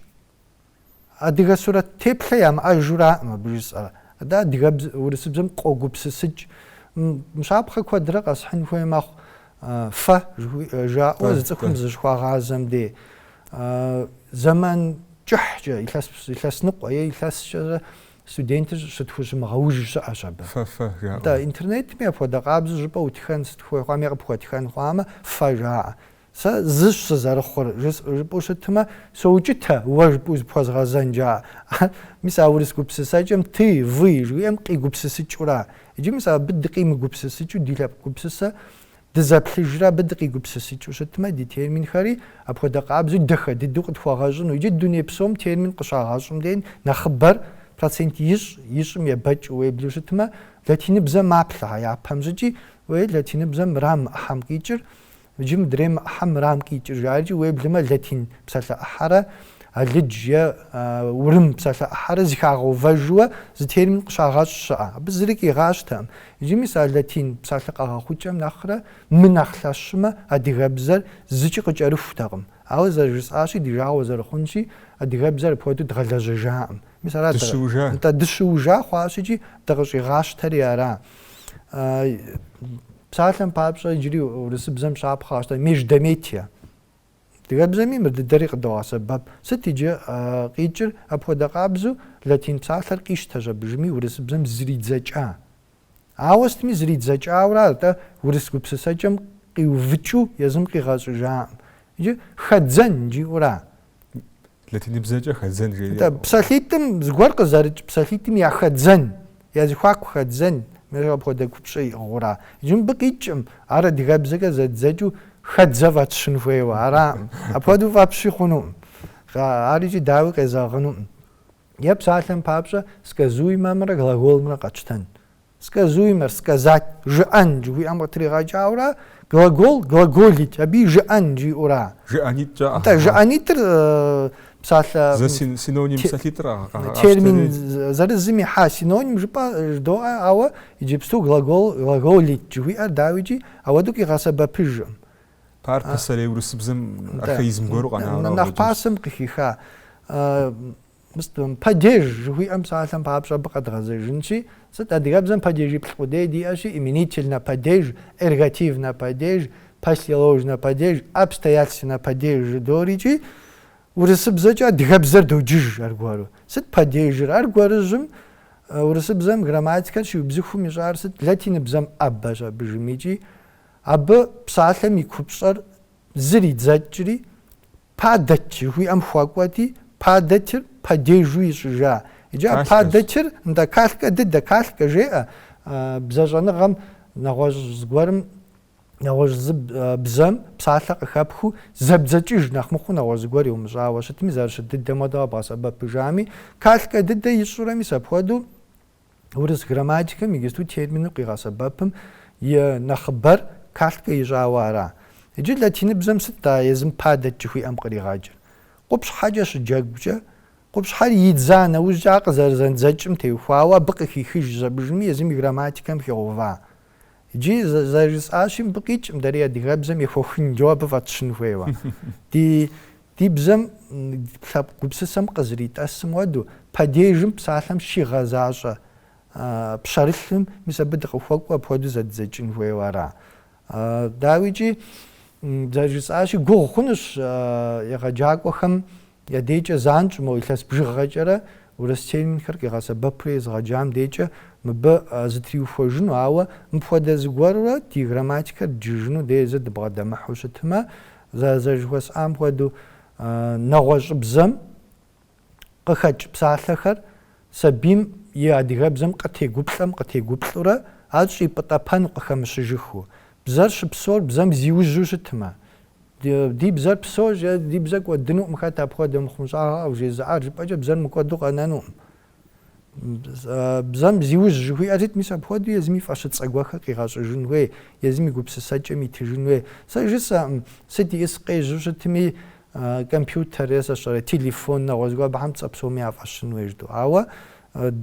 Адыгэ сурэт теплъэ ямыӏэжураӏым абы жысӏэр. Атӏэ адыгэбз, урысыбзэм къогупсысыкӏ. Мы щапхъэ куэдрэ къэсхьын хуей мэхъу, фэ жаӏэу зы цӏыхум зыщыхуагъазэм дей. Зэман кӏыхькӏэ, илъэс, илъэсныкъуэ е илъэскӏэ Студентыр щытхущымыгъэуж щыӏэщ абы. Фэ-фэ жаӏэу. Нтӏэ, интернетми апхуэдэ къабзэу жыпӏэ утхэн сыт хуей хъуамэ е къыпхуэтхэн хъуамэ, фэ жаӏэ. Сэ зыщ сызэрыхъур, жыс, жыпӏэу щытмэ, соукӏытэ, уэ жыпӏэу зыпхуэзгъэзэн жаӏэ. Ар, мис а урыс гупсысэкӏэм ты, вы жыхуиӏэм къигупсысыкӏура? Иджы мис абы дыкъимыгупсысыкӏыу ди лъэпкъ гупсысэ Дызэплъыжрэ абы дыкъигупсысыкӏыу щытмэ, ди терминхэри апхуэдэ къабзэу дахэ дыдэу къытхуэгъэщӏыну икӏи дуней псом термин къыщагъэщӏым деж нэхъыбэр, процент ищӏ, ищӏым ебэкӏыу уеблэу щытмэ, латиныбзэм маплъэ а япэм щӏыкӏи, уей, латиныбзэм мыра мы ӏыхьэм къикӏыр, иджы мыдрей мы ӏыхьэм мырам къикӏыр жаӏэркӏи уеблэмэ, латин псалъэ ӏыхьэрэ алыдж е урым псалъэ ӏыхьэрэ зыхагъэувэжыуэ зы термин къыщагъэщӏ щыӏэ. Абы зыри къигъащтэкъым. Иджы мис а латин псалъэ къэгъэхъукӏэм нэхърэ мынэхъ лъэщмэ, адыгэбзэр зыкӏи къыкӏэрыхутэкъым. Ауэ зэрыжысӏащи, ди жагъуэ зэрыхъунщи, адыгэбзэр апхуэдэу дгъэлэжьэжакъым. Мис ара дэ? Дыщыужа? Нтӏэ, дыщыужа хъуащ икӏи дыкъыщӏигъащтэри ара. Псалъэм папщӏэ, иджыри урысыбзэм щапхъэ къащтэ, междометие. Адыгэбзэми мыр дыдэри къыдогъэсэбэп. Сыт иджы къикӏыр? Апхуэдэ къабзэу латин псалъэр къищтэщ абыжыми урысыбзэм зэридзэкӏа. Ауэ сытми зэридзэкӏаура, атӏэ урыс гупсысэкӏэм къиувыкӏыу езым къигъэщӏыжаӏым. Иджы хэдзэн жиӏэура? Латиныбзэкӏэ хэдзэн жери. Нтӏэ, псалъитӏым зыгуэр къызэрыкӏ псалъитӏым я хэдзэн, я зэхуаку хэдзэн, мыщӏэ апхуэдэ купщӏэ иӏыгъыура? Иджы мыбы къикӏкъым, ар адыгэбзэкӏэ зэддзэкӏыу хэдзэ фӏэтщын хуейуэ араӏым. Апхуэдэу фӏэпщи хъунукъым. Ар икӏи дауи къезэгъынукъым. Е псалъэм папщӏэ, сказуемэмрэ глаголымрэ къэтщтэн. Сказуемэр, сказать, жыӏэн жыхуиӏэм къытригъэкӏауэра, глагол, глаголить, абыи жыӏэн жиӏэура? Жыӏэнитӏ жаӏэ. Атӏэ, жыӏэнитӏыр псалъэ... Зэ синоним псалъитӏыр къагъэкӏуэри. Термин зырызым ихьа синоним жыпӏэ жыдоӏэ, ауэ иджыпсту глагол, глаголить жыхуиӏэр дауикӏи апхуэдэу къигъэсэбэпыжкъым. Ар пасэрей урысыбзэм архаизм гуэру къэнауэ. Нэхъ пасэм къыхиха. Мыстуэм падеж жыхуиӏэм псалъэм папщӏэ абы къэдгъэзэжынщи, сыт адыгэбзэм падежиплӏ къудей диӏэщи, именительнэ падеж, эргативнэ падеж, послеложнэ падеж, обстоятельственнэ падеж жыдоӏэрикӏи, урысыбзэкӏэ адыгэбзэр доджыж аргуэру. Сыт падежыр? Аргуэрыжьым урысыбзэм грамматикэр щиубзыхум ищӏар сыт? Латиныбзэм ӏэбэщ абыжымикӏи, абы псалъэм и купщӏэр зэридзэкӏри, Падать жыхуиӏэм хуэкӏуэти, падатьыр падежу ищӏыжа. Иджы а Калькэщ. падатьыр, нтӏэ, калькэ дыдэ, калькэ жеӏэ а, бзэщӏэныгъэм нэгъуэщӏ зыгуэрым, нэгъуэщӏ зы а, бзэм псалъэ къыхэпхыу, зэбдзэкӏыж нэхъ мыхъуу нэгъуэщӏ зыгуэр иумыщӏауэ щытми, зэрыщыт дыдэм хуэдэу къэбгъэсэбэпыжами, калькэ дыдэ ищӏурэ мис апхуэдэу, Урыс грамматикэм иджыпсту термину къигъэсэбэпым и нэхъыбэр калькэ ищӏауэ ара? Иджы латиныбзэм сыт а езым падать жыхуиӏэм къригъэкӏыр? Къупщхьэкӏэ щыджэгукӏэ, къупщхьэр идза нэужькӏэ ар къызэрызэндзэкӏым теухуауэ абы къыхихыжщ абыжыми езым и грамматикэм хигъэува. Иджы зэрыжысӏащи, мыбы къикӏым дэри адыгэбзэм ехуэхынджэу абы фӏэтщын хуейуэ. Ди, ди бзэм, лъэпкъ гупсысэм къызэритӏэсым хуэдэу, падежым псалъэм щигъэзащӏэ пщэрылъым, мис абы дыкъыхуэкӏуэу апхуэдэу зэддзэкӏын хуейуэ ара? Дауикӏи, зэрыжысӏащи, гугъу хъунущ егъэджакӏуэхэм Я декӏэ занщӏэу мо илъэс бжыгъэкӏэрэ урыс терминхэр къигъэсэбэпурэ езыгъэджам декӏэ мыбы зытриухуэжыну, ауэ мыпхуэдэ зыгуэрурэ ди грамматикэр дджыжыну дэ езыр дыбгъэдэмыхьэу щытмэ, зэрыжыхуэсӏам хуэдэу, нэгъуэщӏыбзэм къыхэкӏ псалъэхэр сабийм и адыгэбзэм къытегуплӏэм къытегуплӏурэ ар щӏипӏытӏэпэну къыхэмыщыжыхыу. Бзэр щыпсэур бзэм зиужьу щытмэ, Ди бзэр псоущ, ди бзэр кӏуэдынукъым, хэт апхуэдэ мыхъумыщӏагъэ къывжезыӏар? Жыпӏэкӏэ бзэр мыкӏуэду къэнэнукъым. Бзэм зиужь жыхуиӏэрщ, мис апхуэдэу езыми фӏэщыцӏэ гуэрхэр къигъэщӏыжын хуей, езым и гупсысэкӏэм итыжын хуей. Сэ жысӏэкъым, сыт ищӏыс къежьэу щытми, компьютер сэ сщӏэрэ, телефон, нэгъуэщӏ гуэр, абыхэм цӏэ псоми яфӏэщын хуей жытӏэу. Ауэ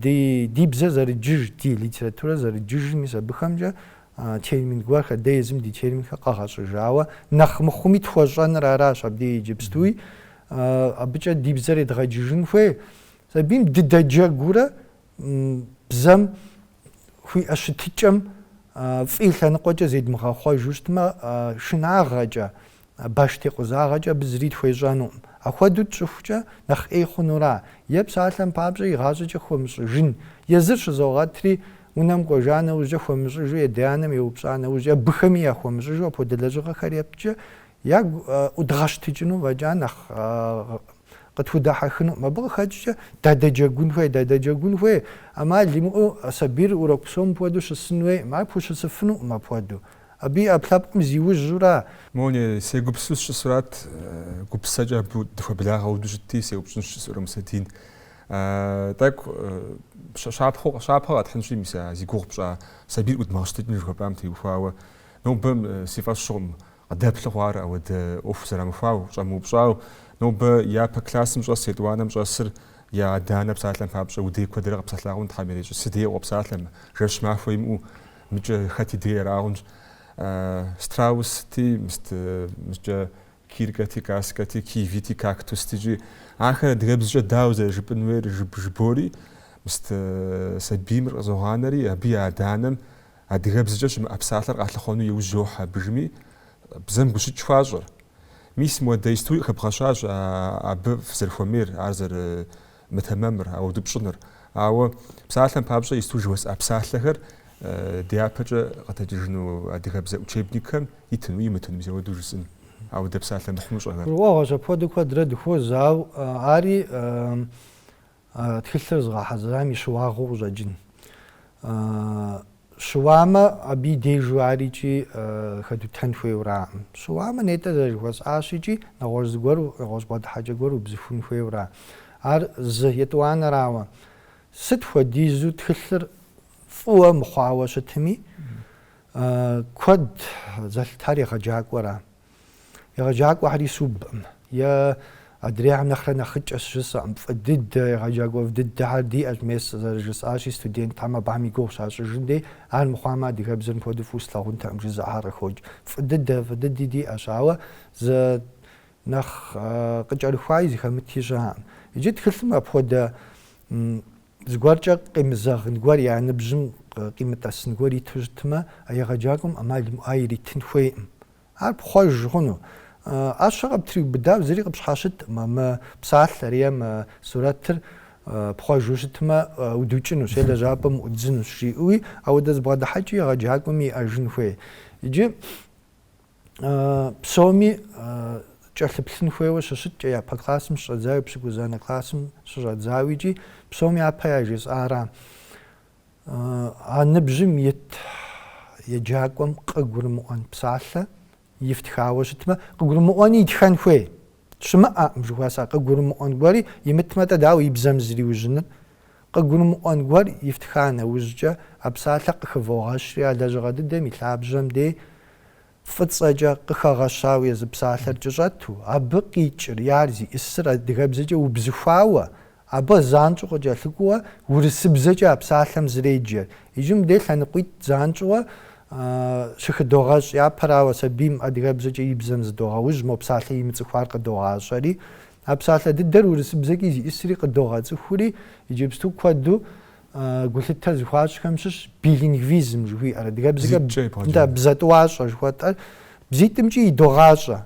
ди бзэр зэрыдджыж, ди литературэр зэрыдджыжыр, мис абыхэмкӏэ Термин гуэрхэр, дэ езым ди терминхэр къэгъэщӏыжауэ, нэхъ мыхъуми тхуэщӏэныр аращ абдей иджыпстуи. Абыкӏэ ди бзэр едгъэджыжын хуей. Сабийм дыдэджэгурэ бзэм хуиӏэ щытыкӏэм фӏы и лъэныкъуэкӏэ зедмыгъэхъуэжу щытмэ, шынагъэкӏэ, Баш текъузагъэкӏэ абы зыри тхуещӏэнукъым. Ахуэдэу тщӏыхукӏэ, нэхъ ӏей хъунура? Е псалъэм папщӏэ игъащӏэкӏэ хуэмыщӏыжын? Езыр щызогъэтри, унэм кӏуэжа нэужькӏэ хуэмыщӏыжу и адэ-анэм еупщӏа нэужькӏэ, абыхэми яхуэмыщӏыжу апхуэдэ лэжьыгъэхэр етткӏэ, ягу ӏудгъэщтыкӏыну фӏэкӏа нэхъ къытхудэхьэхынукъым. Абы къыхэкӏкӏэ дадэджэгун хуей, дадэджэгун хуей, ӏэмал имыӏэу сабийр урок псом апхуэдэу щысын хуейкъым, ар пхущысыфынукъым апхуэдэу. Абы и ӏэпкълъэпкъым зиужьурэ. Мони, сегупсысу сыщысурат, гупсэкӏэ абы дыхуэблагъэ хуэдэу щытти, сеупщӏынщ жысӏэурэ Мусэдин. Тӏэкӏу щапхъэу, щапхъэ къэтхьынщи, мис а зи гугъу пщӏа сабийр ӏудмыгъэщтыкӏыну жыхуэпӏам теухуауэ, нобэ си фӏэщ хъукъым къыдэплъу хъуар ауэдэ ӏуэху зэрамыхуауэ, щӏэмыупщӏауэ, нобэ япэ классым щӏэс етӏуанэм щӏэсыр я адэ-анэ псалъэм папщӏэ уи дей куэдрэ къэпсэлъагъэн, Тхьэм ирещӏи, си дей къопсалъэ, жэщ махуэ имыӏэу. Мыкӏэ хэти дей арагъэнщ. Страусти, мыст, мыскӏэ киркэти, каскэти, кивити, кактустикӏи. Ахэр адыгэбзэкӏэ дауэ зэрыжыпӏын хуейр жып жыбоӏэри, мыст, сабийр къызогъанэри, абы и адэ-анэм адыгэбзэкӏэ щымыӏэ псалъэр къалъыхъуэну иужь йохьэ абыжми, бзэм гущыкӏ хуащӏыр. Мис муэдэ историе къыхэбгъэщащ абы фызэрыхуэмейр, ар зэры, мытэмэмыр, ауэду пщӏыныр. Ауэ псалъэм папщӏэ исту жыхуэсӏа псалъэхэр дяпэкӏэ къытэджыжыну адыгэбзэ учебникхэм итыну имытыну мис ауэду жысӏын, ауэ дэ псалъэ мыхъумыщӏэхэр. Гурыӏуэгъуэщ апхуэдэу куэдрэ дыхуоз, ау ари тхылъыр зыгъэхьэзырам и щыуагъэу къыщӏэкӏын. Щыуамэ, абы и дежу ар икӏи хэдутэн хуейураӏым. Щыуамэ, нетӏэ зэрыжыхуэсӏащ икӏи нэгъуэщӏ зыгуэр, нэгъуэщӏ бгъэдыхьэкӏэ гуэр убзыхун хуейуэра? Ар зы, етӏуанэрауэ, сыт хуэдизу тхылъыр фӏыуэ мыхъуауэ щытми, куэд зэлъытар егъэджакӏуэра? Егъэджакӏуэхэри субкъым, е адрейхэм нэхърэ нэхъыкӏэщ жысӏэкъым, фӏы дыдэ, егъэджакӏуэ фӏы дыдэхэр диӏэщ, мес зэрыжысӏащи, студентхэм абыхэм и гугъу щащӏыжын дей, ар мыхъуамэ, адыгэбзэр мыпхуэдэу фӏыуэ слъагъунтэкъым жызыӏэхэр къыхокӏ. Фӏы дыдэ, фӏы дыди диӏэщ, ауэ зы нэхъ къыкӏэрыхуаи зыхэмыти щыӏэкъым. Иджы тхылъым апхуэдэ зыгуэркӏэ къемызэгъын гуэр, я ныбжьым къимытӏэсын гуэр иту щытмэ, а егъэджакӏуэм ӏэмал имыӏэу ар иритын хуейкъым. Ар пхъуэж хъуну? ӏэщэ къыптриубыдау зыри къыпщхьэщытӏым, мы псалъэр е мы сурэтыр пхъуэжу щытмэ, удукӏынущ е лэжьапӏэм уӏуддзынущ жиӏэуи, ауэдэ зы бгъэдыхьэкӏи егъэджакӏуэми иӏэжын хуей. Иджы псоми кӏэлъыплъын хуейуэ щыщыткӏэ, япэ классым щыщӏэдзауи, пщыкӏузанэ классым щыщӏэдзауи икӏи псоми япэ яжесӏара? А ныбжьым ит еджакӏуэм къыгурымыӏуэн псалъэ ифтхауэ щытмэ, къыгурымыӏуэни итхэн хуей щымыӏэкъым, жыхуэсӏэ. Къыгурымыӏуэн гуэри имытмэ-тӏэ, дауэ и бзэм зриужьыныр? Къыгурымыӏуэн гуэр ифтха нэужькӏэ, а псалъэр къыхывогъэщри а лэжьыгъэ дыдэм и лъабжьэм дей фӏыцӏэкӏэ къыхэгъэщауэ езы псалъэр кӏэщӏэту, абы къикӏыр, е ар зиӏысыр адыгэбзэкӏэ убзыхуауэ, абы занщӏэу къыкӏэлъыкӏуэуэ урысыбзэкӏэ а псалъэм зреджэр. Иджы мыдей лъэныкъуитӏ занщӏэуэ щыхыдогъэщӏ, япэрауэ, сабийм адыгэбзэкӏэ и бзэм зыдогъэужь, мо псалъэ имыцӏыхуар къыдогъащӏэри, а псалъэ дыдэр урысыбзэкӏи зиӏысри къыдогъэцӏыхури, иджыпсту куэду Гулъытэ зыхуащӏхэм щыщ билингвизм жыхуиӏэр, адыгэбзэкӏэ дэ бзэтӏуащӏэ жыхуэтӏэр, бзитӏымкӏи идогъащӏэ.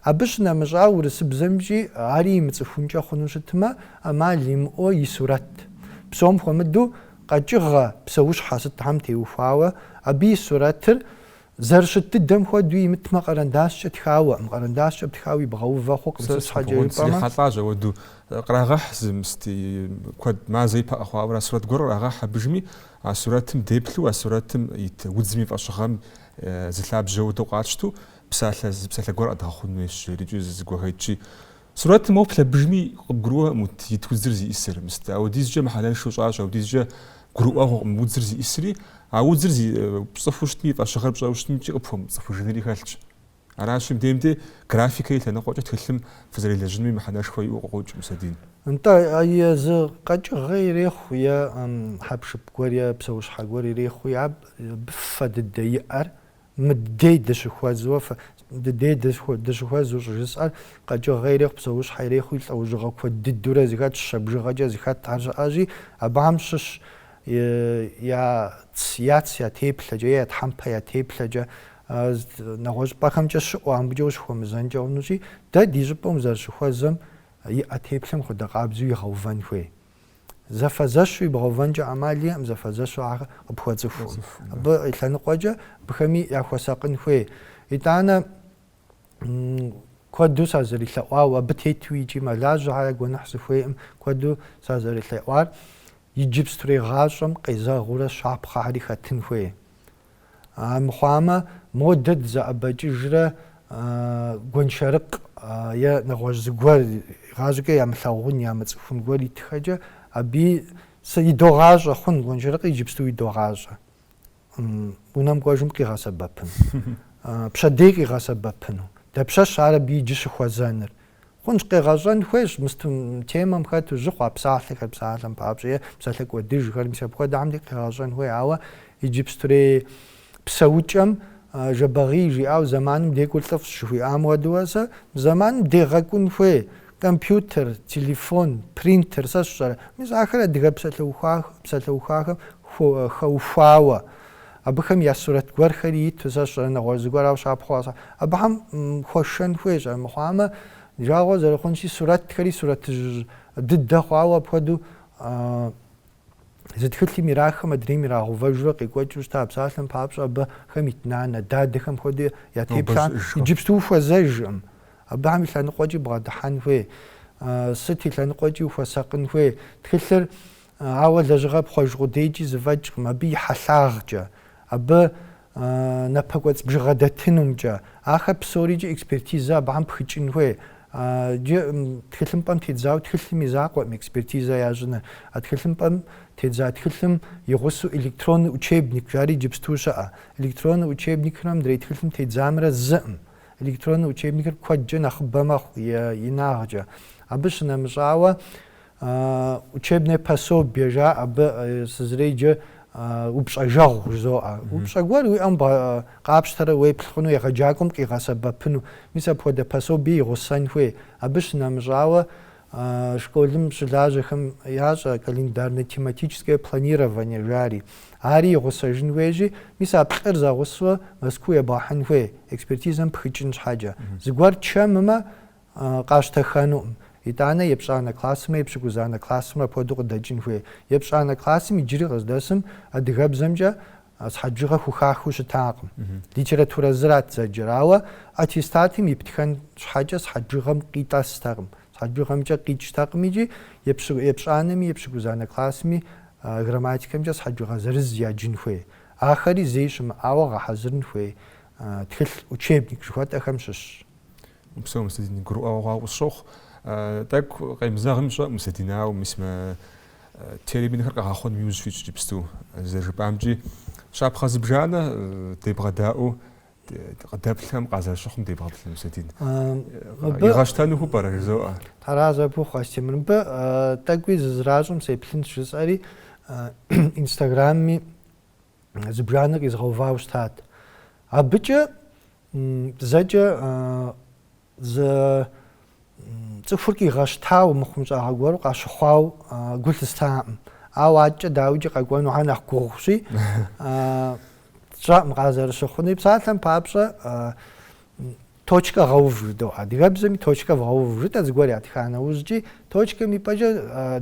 Абы щынэмыщӏауэ, урысыбзэмкӏи ари имыцӏыхункӏэ хъуну щытмэ, ӏэмал имыӏэу и сурэт. Псом хуэмыдэу, къэкӏыгъэ псэущхьэ сытхэм теухуауэ, абы и сурэтыр Зэрыщыт дыдэм хуэдэу имытмэ, къэрэндащкӏэ тхауэ, мы къэрэндащкӏэ тхауэ ибгъэувэ хъукъым, сыт щхьэкӏэ жыпӏэмэ. Сэ срихьэлӏащ ауэду, кърагъэхь зы мыст куэд, мазэ ипэ къэхъуауэ ара сурэт гуэр кърагъэхь абыжми, а сурэтым деплъу, а сурэтым ит удзым и фӏэщыгъэм зы лъабжьэу дэ къатщту псалъэ, зы псалъэ гуэр къэдгъэхъун хуейщ, жери икӏи зыгуэхэкӏи. Сурэтым уэ плъэбжми къыбгурыӏуэ мут ит удзыр зиӏисыр, мыст, ауэдизкӏэ мыхьэнэншэу щӏащ, ауэдизкӏэ гурыӏуэгъуэкъым удзыр зиӏисри, а удзыр зи пцӏыхуу щытми, и фӏэщыгъэр пщӏэу щытымкӏи къыпхуэмыпцӏыхужынри хэлъщ. Аращи, мыбдеж мыбдей графикэ и лъэныкъуэкӏэ тхылъым фызэрелэжьынми мыхьэнэшхуэ иӏэу къыӏуокӏ Мусэдин. Нтӏэ, езы къэкӏыгъэ ирехъу е хьэпшып гуэр е псэущхьэ гуэр ирехъуи аб бы фэ дыдэ иӏэр Мы ди дей дыщыхуэзуэ, фэ, ди дей дыщыхуэзу щӏыжысӏэр, къэкӏыгъэ ирехъу, псэущхьэ ирехъуи, лӏэужьыгъэ куэд дыдурэ зыхэтщ, щэ бжыгъэкӏэ зыхэтхэр щыӏэщи, абыхэм щыщщ я ц, я ц я теплъэкӏэ, е я тхьэмпэ я теплъэкӏэ, нэгъуэщӏыпӏэхэмкӏэ щыӏэу, абыкӏэ ущыхуэмызэнкӏэ хъунущи, дэ ди щӏыпӏэм узэрыщыхуэзэм иӏэ теплъэм хуэдэ къабзэу игъэувэн хуей. зэфэзэщу ибгъэувэнкӏэ ӏэмал иӏэм, зэфэзэщу ар къыпхуэцӏыху. Абы и лъэныкъуэкӏэ абыхэми яхуэсакъын хуей. Итӏанэ куэду сазэрелъэӏуауэ, абы тету икӏи мэлажьэхэ, я гуэныхь сыхуейӏым, куэду сазэрелъэӏуар иджыпстурей гъащӏэм къезэгъыурэ щапхъэхэри хэтын хуей. Мыхъуамэ, модэ дызэӏэбэкӏыжрэ гуэншэрыкъ е нэгъуэщӏ зыгуэр игъащӏэкӏэ ямылъагъун, ямыцӏыхун гуэр итхэкӏэ, аби сэ идогъащӏэ хъун, гуэншэрыкъ иджыпсту идогъащӏэ унэм кӏуэжым къигъэсэбэпыну, пщэдей къигъэсэбэпыну. Дапщэщ ар абы иджы щыхуэзэныр? Хъунщ, къегъэщӏэн хуейщ мы темэм хэту жьы хъуа псалъэхэр, псалъэм папщӏэ е псалъэ кӏуэдыжхэр, мис апхуэдэхьэмти къегъэщӏэн хуей. Ауэ иджыпстурей псэукӏэм Жэбагъий жиӏауэ зэманым декӏур лӏыфӏщ жыхуиӏам хуэдэуэ сэ мы зэманым дегъэкӏун хуей. Компьютер, телефон, принтер, сэ сщӏэрэ. Мис ахэр адыгэ псалъэухахэм хэухуауэ Абыхэм я сурэт гуэрхэри иту сэ сщӏэрэ нэгъуэщӏ зыгуэрауэ щапхъэу къэсӏа. Абыхэм хуэшэн хуейщ, ар мыхъуамэ, жагъуэ зэрыхъунщи, сурэтхэри сурэтыжь дыдэ хъуауэ апхуэдэу зы тхылъым ирахым адрейм ирагъэувэжурэ къекӏуэкӏыу щыта, а псалъэм папщӏэ абыхэм ит нанэ, дадэхэм хуэдэу я теплъэ иджыпсту ухуэзэжкъым. Абыхэм и лъэныкъуэкӏи бгъэдыхьэн хуей, сыт и лъэныкъуэкӏи ухуэсакъын хуей. Тхылъыр Ауэ лэжьыгъэ пхъуэж къудейкӏи зыфӏэкӏкъым, абы и хьэлъагъкӏэ, абы напэкӏуэцӏ бжыгъэ дэтынумкӏэ. Ахэр псори иджы экспертизэ абыхэм пхыкӏын хуей. Иджы тхылъымпӏэм тедзауэ тхылъым и закъуэкъым экспертизэ ящӏыныр. А тхылъымпӏэм тедза тхылъым и гъусэу электронный учебник жари иджыпсту щыӏэ. Электронный учебникхэмрэ мыдрей тхылъым тедзамрэ зыӏым. Электронный учебникыр куэдкӏэ нэхъыбэ мэхъу, и инагъкӏэ. Абы щынэмыщӏауэ, Учебное пособие жаӏэ абы, сэ зэреджэ упщӏэжэгъу жызоӏэ. Упщӏэ гуэр уи ӏэм къапщтэрэ уеплъ хъуну, егъэджакӏуэм къигъэсэбэпыну. Мис апхуэдэ пособие игъусэн хуей. Абы щынэмыщӏауэ, школым щылажьэхэм ящӏэ календарно-тематическое планирование жари. Ари игъусэжын хуейщи, мис а плӏыр зэгъусэу Мэзкуу ебгъэхьын хуей, экспертизэм пхыкӏын щхьэкӏэ. Зыгуэр чэммэ, къащтэхэнукъым. Итӏанэ епщӏанэ классымэ, епщыкӏузанэ классымэ апхуэдэу къыдэкӏын хуей. Епщӏанэ классым иджыри къыздэсым адыгэбзэмкӏэ сыхьэт бжыгъэ хухахыу щытакъым. Литературэ зырат зэджэр, ауэ аттестатым иптхэн щхьэкӏэ сыхьэт бжыгъэм къитӏэстэкъым, сыхьэт бжыгъэмкӏэ къикӏтэкъым икӏи епщӏанэми, епщыкӏузанэ классми грамматикэмкӏэ сыхьэт бжыгъэ зырыз яджын хуей. Ахэри зэи щымыӏауэ гъэхьэзырын хуей тхылъ, учебник жыхуэтӏэхэм щыщщ. Упсэу, Мусэдин, гурыӏуэгъуэ хъуауэ къысщохъу. Тӏэкӏу къемызэгъми сщӏэкъым, Мусэдин, ауэ мис мы терминхэр къэгъэхъуным иужь фитщ иджыпсту. Зэрыжыпӏамкӏи, щапхъэ зыбжанэ дебгъэдаӏуэу къыдэплъхэм къазэрыщыхъум дебгъэплъын, Мусэдин. Игъэщтэнухэу пӏэрэ жызоӏэ? Аращ абы ухуэстемыр. Мыбы тӏэкӏуи зызэращӏым сеплъынщ жысӏэри, инстаграмми зыбжанэ къизгъэувауэ щытат. Абыкӏэ зэкӏэ зы цӏыхур къигъэщтауэ мыхъумыщӏагъэ гуэру къащыхъуауэ гу лъыстаӏым. Ауэ адкӏэ дауикӏи къэкӏуэнухэр нэхъ гугъущи, сщӏэӏым къазэрыщыхъуни. Псалъэм папщӏэ, Точкэ гъэув жыдоӏэ адыгэбзэми точкэ вгъэув жытӏэ зыгуэр ятха нэужькӏи, точкэм ипӏэкӏэ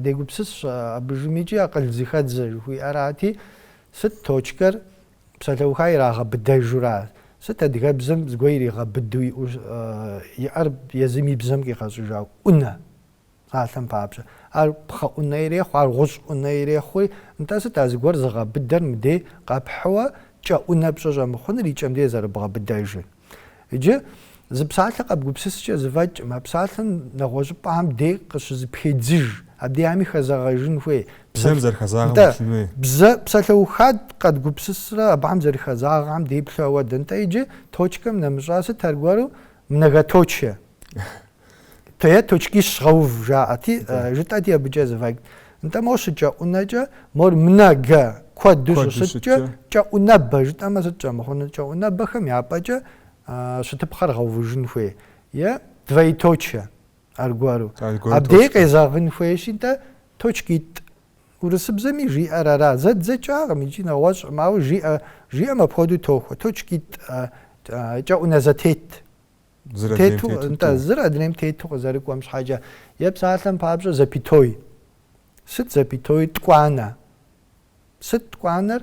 дегупсысщ абдежым икӏи акъыл зэхэдзэ жыхуиӏэрати, сыт точкэр псалъэуха ирагъэбыдэжура, сыт адыгэбзэм зыгуэр иригъэбыду иӏэр езым и бзэм къигъэщӏыжа ӏунэ? Псалъэм папщӏэ, ар пхъэ ӏунэ ирехъу, ар гъущӏ ӏунэ ирехъуи, нтӏэ сыт а зыгуэр зыгъэбыдэр мыбдей къэпхьу кӏэӏунэ пщӏы щӏэмыхъуныр и кӏэм деж зэрыбгъэбыдэжыр? Иджы зы псалъэ къэбгупсыскӏэ зэфӏэкӏкъым, а псалъэм нэгъуэщӏыпӏэхэм дей къыщызэпхедзыж, абдеями хэзэгъэжын хуей. Бзэм зэрыхэзагъэм Нтӏэ, уитын хуей. бзэ, псалъэуха къэдгупсысрэ абыхэм зэрыхэзагъэхэм деплъу ауэдэ. Нтӏэ, иджы точкэм нэмыщӏа сыт аргуэру, многоточие? Тое точкищ гъэув жаӏэти, жытӏэти абыкӏэ зывайк. Нтӏэ мо щыкӏэӏунэкӏэ, мор мынэ гэ куэду щыщыткӏэ, кӏэӏунэбэ жытӏэмэ сыт щӏэмыхъуныр? Кӏэӏунэбэхэм я пӏэкӏэ щытыпхъэр гъэувыжын хуей е двоеточие аргуэру. Абдеи къезэгъын хуейщи, нтӏэ точкитӏ. Урысыбзэми жиӏэр ара? Зэдзэкӏакъым икӏи нэгъуэщӏкъым, ауэ жиӏэ, жиӏэм апхуэдэу тохуэ. Точкитӏ, кӏэӏунэ зэтет. Тету, нтӏэ, зыр адрейм тету къызэрыкӏуэм щхьэкӏэ, е псалъэм папщӏэ запятой. Сыт запятой? Ткӏуанэ. Сыт ткӏуанэр?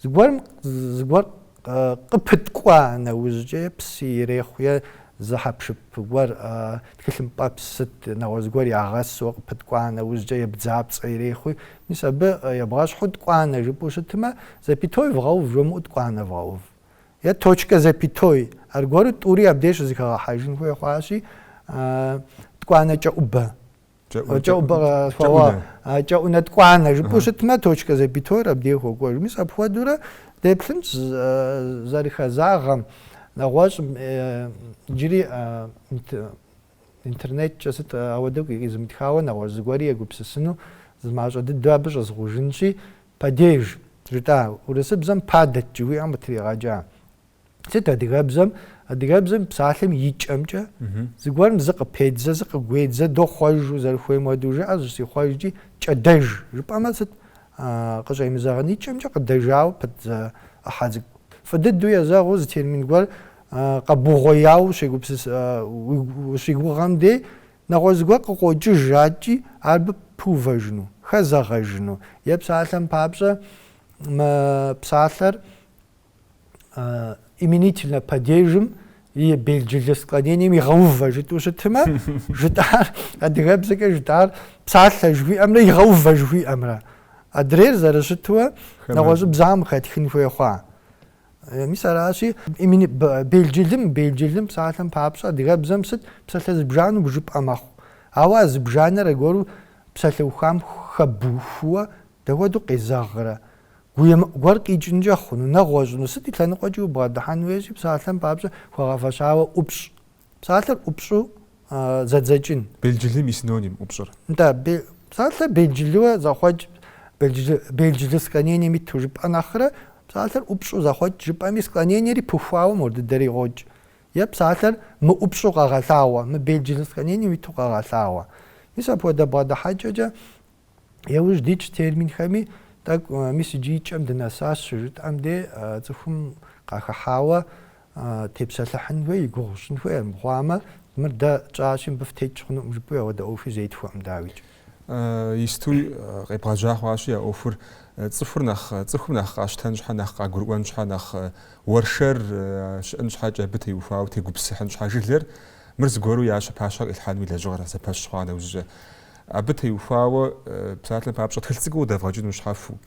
Зыгуэрым, зыгуэр къыпыткӏуа нэужькӏэ, е псы ирехъу, е зы хьэпшып гуэр, тхылъымпӏэпс сыт, нэгъуэщӏ зыгуэр ягъэсу къыпыткӏуа нэужькӏэ, е бдзапцӏэ ирехъуи, мис абы ебгъэщхьу ткӏуанэ жыпӏэу щытмэ, запятой вгъэув жумыӏэу ткӏуанэ вгъэув. е точка запятой, аргуэру тӏури абдеж щызыхэгъэхьэжын хуей хъуащи, ткӏуанэ кӏэӏубэ. Кӏэӏубэ къэсхуауэ, кӏэӏунэ ткӏуанэ жыпӏэу щытмэ, точка запятойр абдей хуэкӏуэж. Мис апхуэдэурэ деплъынщ зэрыхэзагъэм, нэгъуэщӏым, иджыри Интернеткӏэ сыт ауэдэу къикъизымытхауэ нэгъуэщӏ зыгуэри егупсысыну, зы мащӏэ дыдэу абы щӏэзыгъужынщи, падеж, жытӏа, урысыбзэм падать жыхуиӏэм къытригъэкӏа. Сыт адыгэбзэм? Адыгэбзэм псалъэм и кӏэмкӏэ зыгуэрым зыкъыпедзэ, зыкъыгуедзэ, дохъуэжу, зэрыхуейм хуэдэу жыӏэ, зыщихъуэжкӏи, кӏэдэж жыпӏэмэ сыт къыщӏемызэгъын? И кӏэмкӏэ къыдэжауэ пыт зы ӏыхьэ цӏыкӏу. Фӏы дыдэу езэгъыу зы термин гуэр Къэбугъуеяуэ щегупсыс, щыуигугъэм де нэгъуэщӏ зыгуэр къыкъуокӏыж жаӏэкӏи, ар абы пыувэжыну, хэзэгъэжыну е псалъэм папщӏэ мы псалъэр именительнэ падежым и белджылы склонением игъэувэ жытӏэу щытмэ, жытӏар, адыгэбзэкӏэ жытӏар псалъэ жыхуиӏэмрэ игъэувэ жыхуиӏэмрэ адрейр зэрыщытуэ нэгъуэщӏыбзагъэм хэтхын хуей хъуа. Э, мис аращи, имени белджылым, белджылым псалъэм папщӏэ адыгэбзэм сыт псалъэ зыбжану бжыпӏэ мэхъу. Ауэ а зыбжанэр аргуэру псалъэухам хэбухуэ дапхуэдэу къезэгърэ? Гуемыӏу гуэр къикӏынкӏэ хъуну, нэгъуэщӏыну, сыт и лъэныкъуэкӏи убгъэдыхьэн хуейщи, псалъэм папщӏэ хуэгъэфэщауэ ӏупщӏ Псалъэр ӏупщӏу зэдзэкӏын. Белджылым и синоним, ӏупщӏыр. Нтӏэ, псалъэр белджылыуэ зэхъуэкӏ, белджылы склонением иту жыпӏэ нэхърэ, псалъэр ӏупщӏу зэхъуэкӏ жыпӏэми склонениери пыхуауэ мор дыдэри къокӏ. Е псалъэр мыӏупщӏу къэгъэлъагъуэ, мыбелджылы склонением иту къэгъэлъагъуэ. Мис апхуэдэ бгъэдыхьэкӏэкӏэ Яужь дитщ терминхэми, тӏэкӏу мис иджы и кӏэм дынэсащ щыжытӏэм де цӏыхум къахэхьауэ тепсэлъыхьын хуей, и гугъу щын хуей, армыхъуамэ, мыр дэ тщӏащи, мыбы фтекӏ хъунукъым жыпӏэу ауэдэ ӏуэхуи зетхуэкъым, дауикӏ. Истуи къебгъэжьа хъуащи а ӏуэхур, цӏыхур нэхъ, цӏыхум нэхъ къащтэн щхьэ, нэхъ къагурыӏуэн щхьэ, нэхъ уэршэр щыӏын щхьэкӏэ, абы теухуауэ тегупсыхьын щхьэ жылэр, мыр зыгуэру я щэ пащхьэ къилъхьэнуи лэжьыгъэр зэпэщ хъуа нэужькӏэ. Абы теухуауэ псалъэм папщӏэ тхылъ цӏыкӏуу къыдэвгъэкӏыну щхьэхуэу,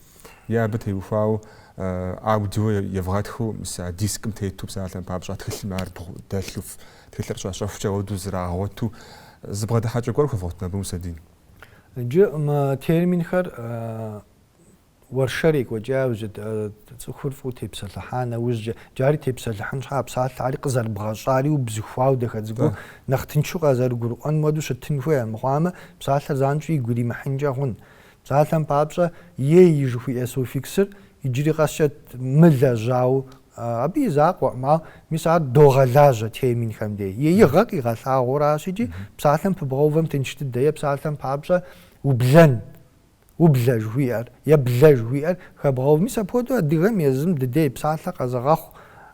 е абы теухуауэ аудио евгъэтхыу мис а дискым тету псалъэм папщӏэ а тхылъым ар дэлъу тхылъыр щащэхукӏэ хуэдэу зрагъуэту зыбгъэдыхьэкӏэ гуэр хуэвгъуэтын абы, Мусэдин. Иджы мы терминхэр Уэршэр екӏуэкӏауэ цӏыхур фӏыуэ тепсэлъыхьа нэужькӏэ, джари тепсэлыхьын щхьа псалъэри къызэрыбгъэщӏари убзыхуауэ дахэ цӏыкӏуу, нэхъ тыншу къазэрыгурыӏуэн хуэдэу щытын хуей, армыхъуамэ, псалъэр занщӏэу игу иримыхьынкӏэ хъун. Псалъэм папщӏэ, ей жыхуиӏэ суффиксыр иджыри къэскӏэ мылэжьауэ, абы и закъуэкъым, ауэ мис ар догъэлажьэ терминхэм деж. Еигъэ къигъэлъагъуэращ икӏи, псалъэм пыбгъэувэм тынш дыдэ е псалъэм папщӏэ ублэн. Ублэ жыхуиӏэр е блэ жыхуиӏэр хэбгъэув. Мис апхуэдэу адыгэм езым дыдей псалъэ къэзыгъэхъу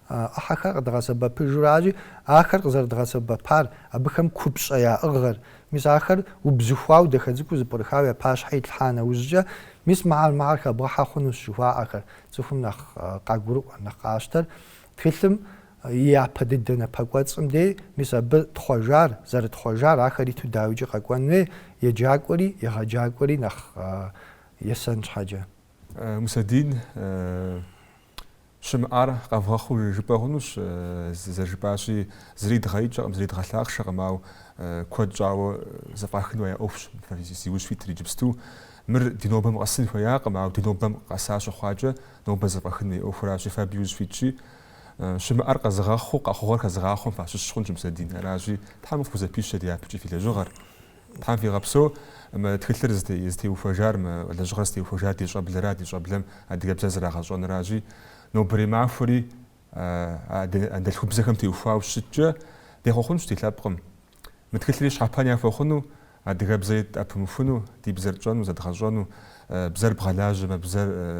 ӏыхьэхэр къыдгъэсэбэпыжуращи, ахэр къызэрыдгъэсэбэпар, абыхэм купщӏэ яӏыгъыр, мис ахэр убзыхуауэ дахэ цӏыкӏуу зэпкърыхауэ я пащхьэ итлъхьа нэужькӏэ, мис мыхьэр мыхьэр хэбгъэхьэ хъунущ жыхуаӏэхэр цӏыхум нэхъ къагурыӏуэр, нэхъ къащтэр тхылъым И япэ дыдэ напэкӏуэцӏым де, мис абы тхъуэжар, зэрытхъуэжар ахэр иту дауикӏи къэкӏуэн хуей, еджакӏуэри, егъэджакӏуэри нэхъ есэн щхьэкӏэ. Мусэдин щымыӏар къэвгъэхъуу жыпӏэ хъунущ, зэрыжыпӏащи, зыри дгъэикӏэкъым, зыри дгъэлъахъшэкъым, ауэ куэд щӏауэ зэфӏэхын хуея ӏуэхущ, зи ужь фитыр иджыпсту. Мыр ди нобэм къэсын хуеякъым, ауэ ди нобэм къэса щыхъуакӏэ, нобэ зэфӏэхын хуея ӏуэхуращи, фэ абы и ужь фитщи, Щымыӏэр къэзыгъэхъуу къэхъугъэр хэзыгъахъуэм фащыщ хъунщ Мусэдин. Аращи, Тхьэм фхузэпищэ дяпэкӏи фи лэжьыгъэр. Тхьэм фигъэпсэу мы тхылъыр зытеухуэжар, мы лэжьыгъэр зытеухуэжар ди щӏэблэра, ди щӏэблэм адыгэбзэр зэрагъэщӏэнращи, нобэрей махуэри анэдэлъхубзэхэм теухуауэ щыткӏэ, дехъуэхъунщ ди лъэпкъым. Мы тхылъри щхьэпэн яхуэхъуну, адыгэбзэр тӏэпымыхуну, ди бзэр тщӏэну, зэдгъэщӏэну, бзэр бгъэлажьэмэ,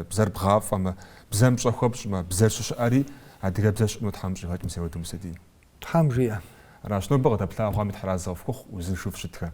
бзэр бгъафӏэмэ, бзэм пщӏэ хуэпщӏмэ, бзэр щыщыӏэри, адыгэбзэр щыӏэну Тхьэм щӏигъэкӏ. Упсэу, Мусэдин. Тхьэм жиӏэ. Аращ нобэ къыдэплъахэми Тхьэразэ къыфхухъу, узыншэу фыщытхэ.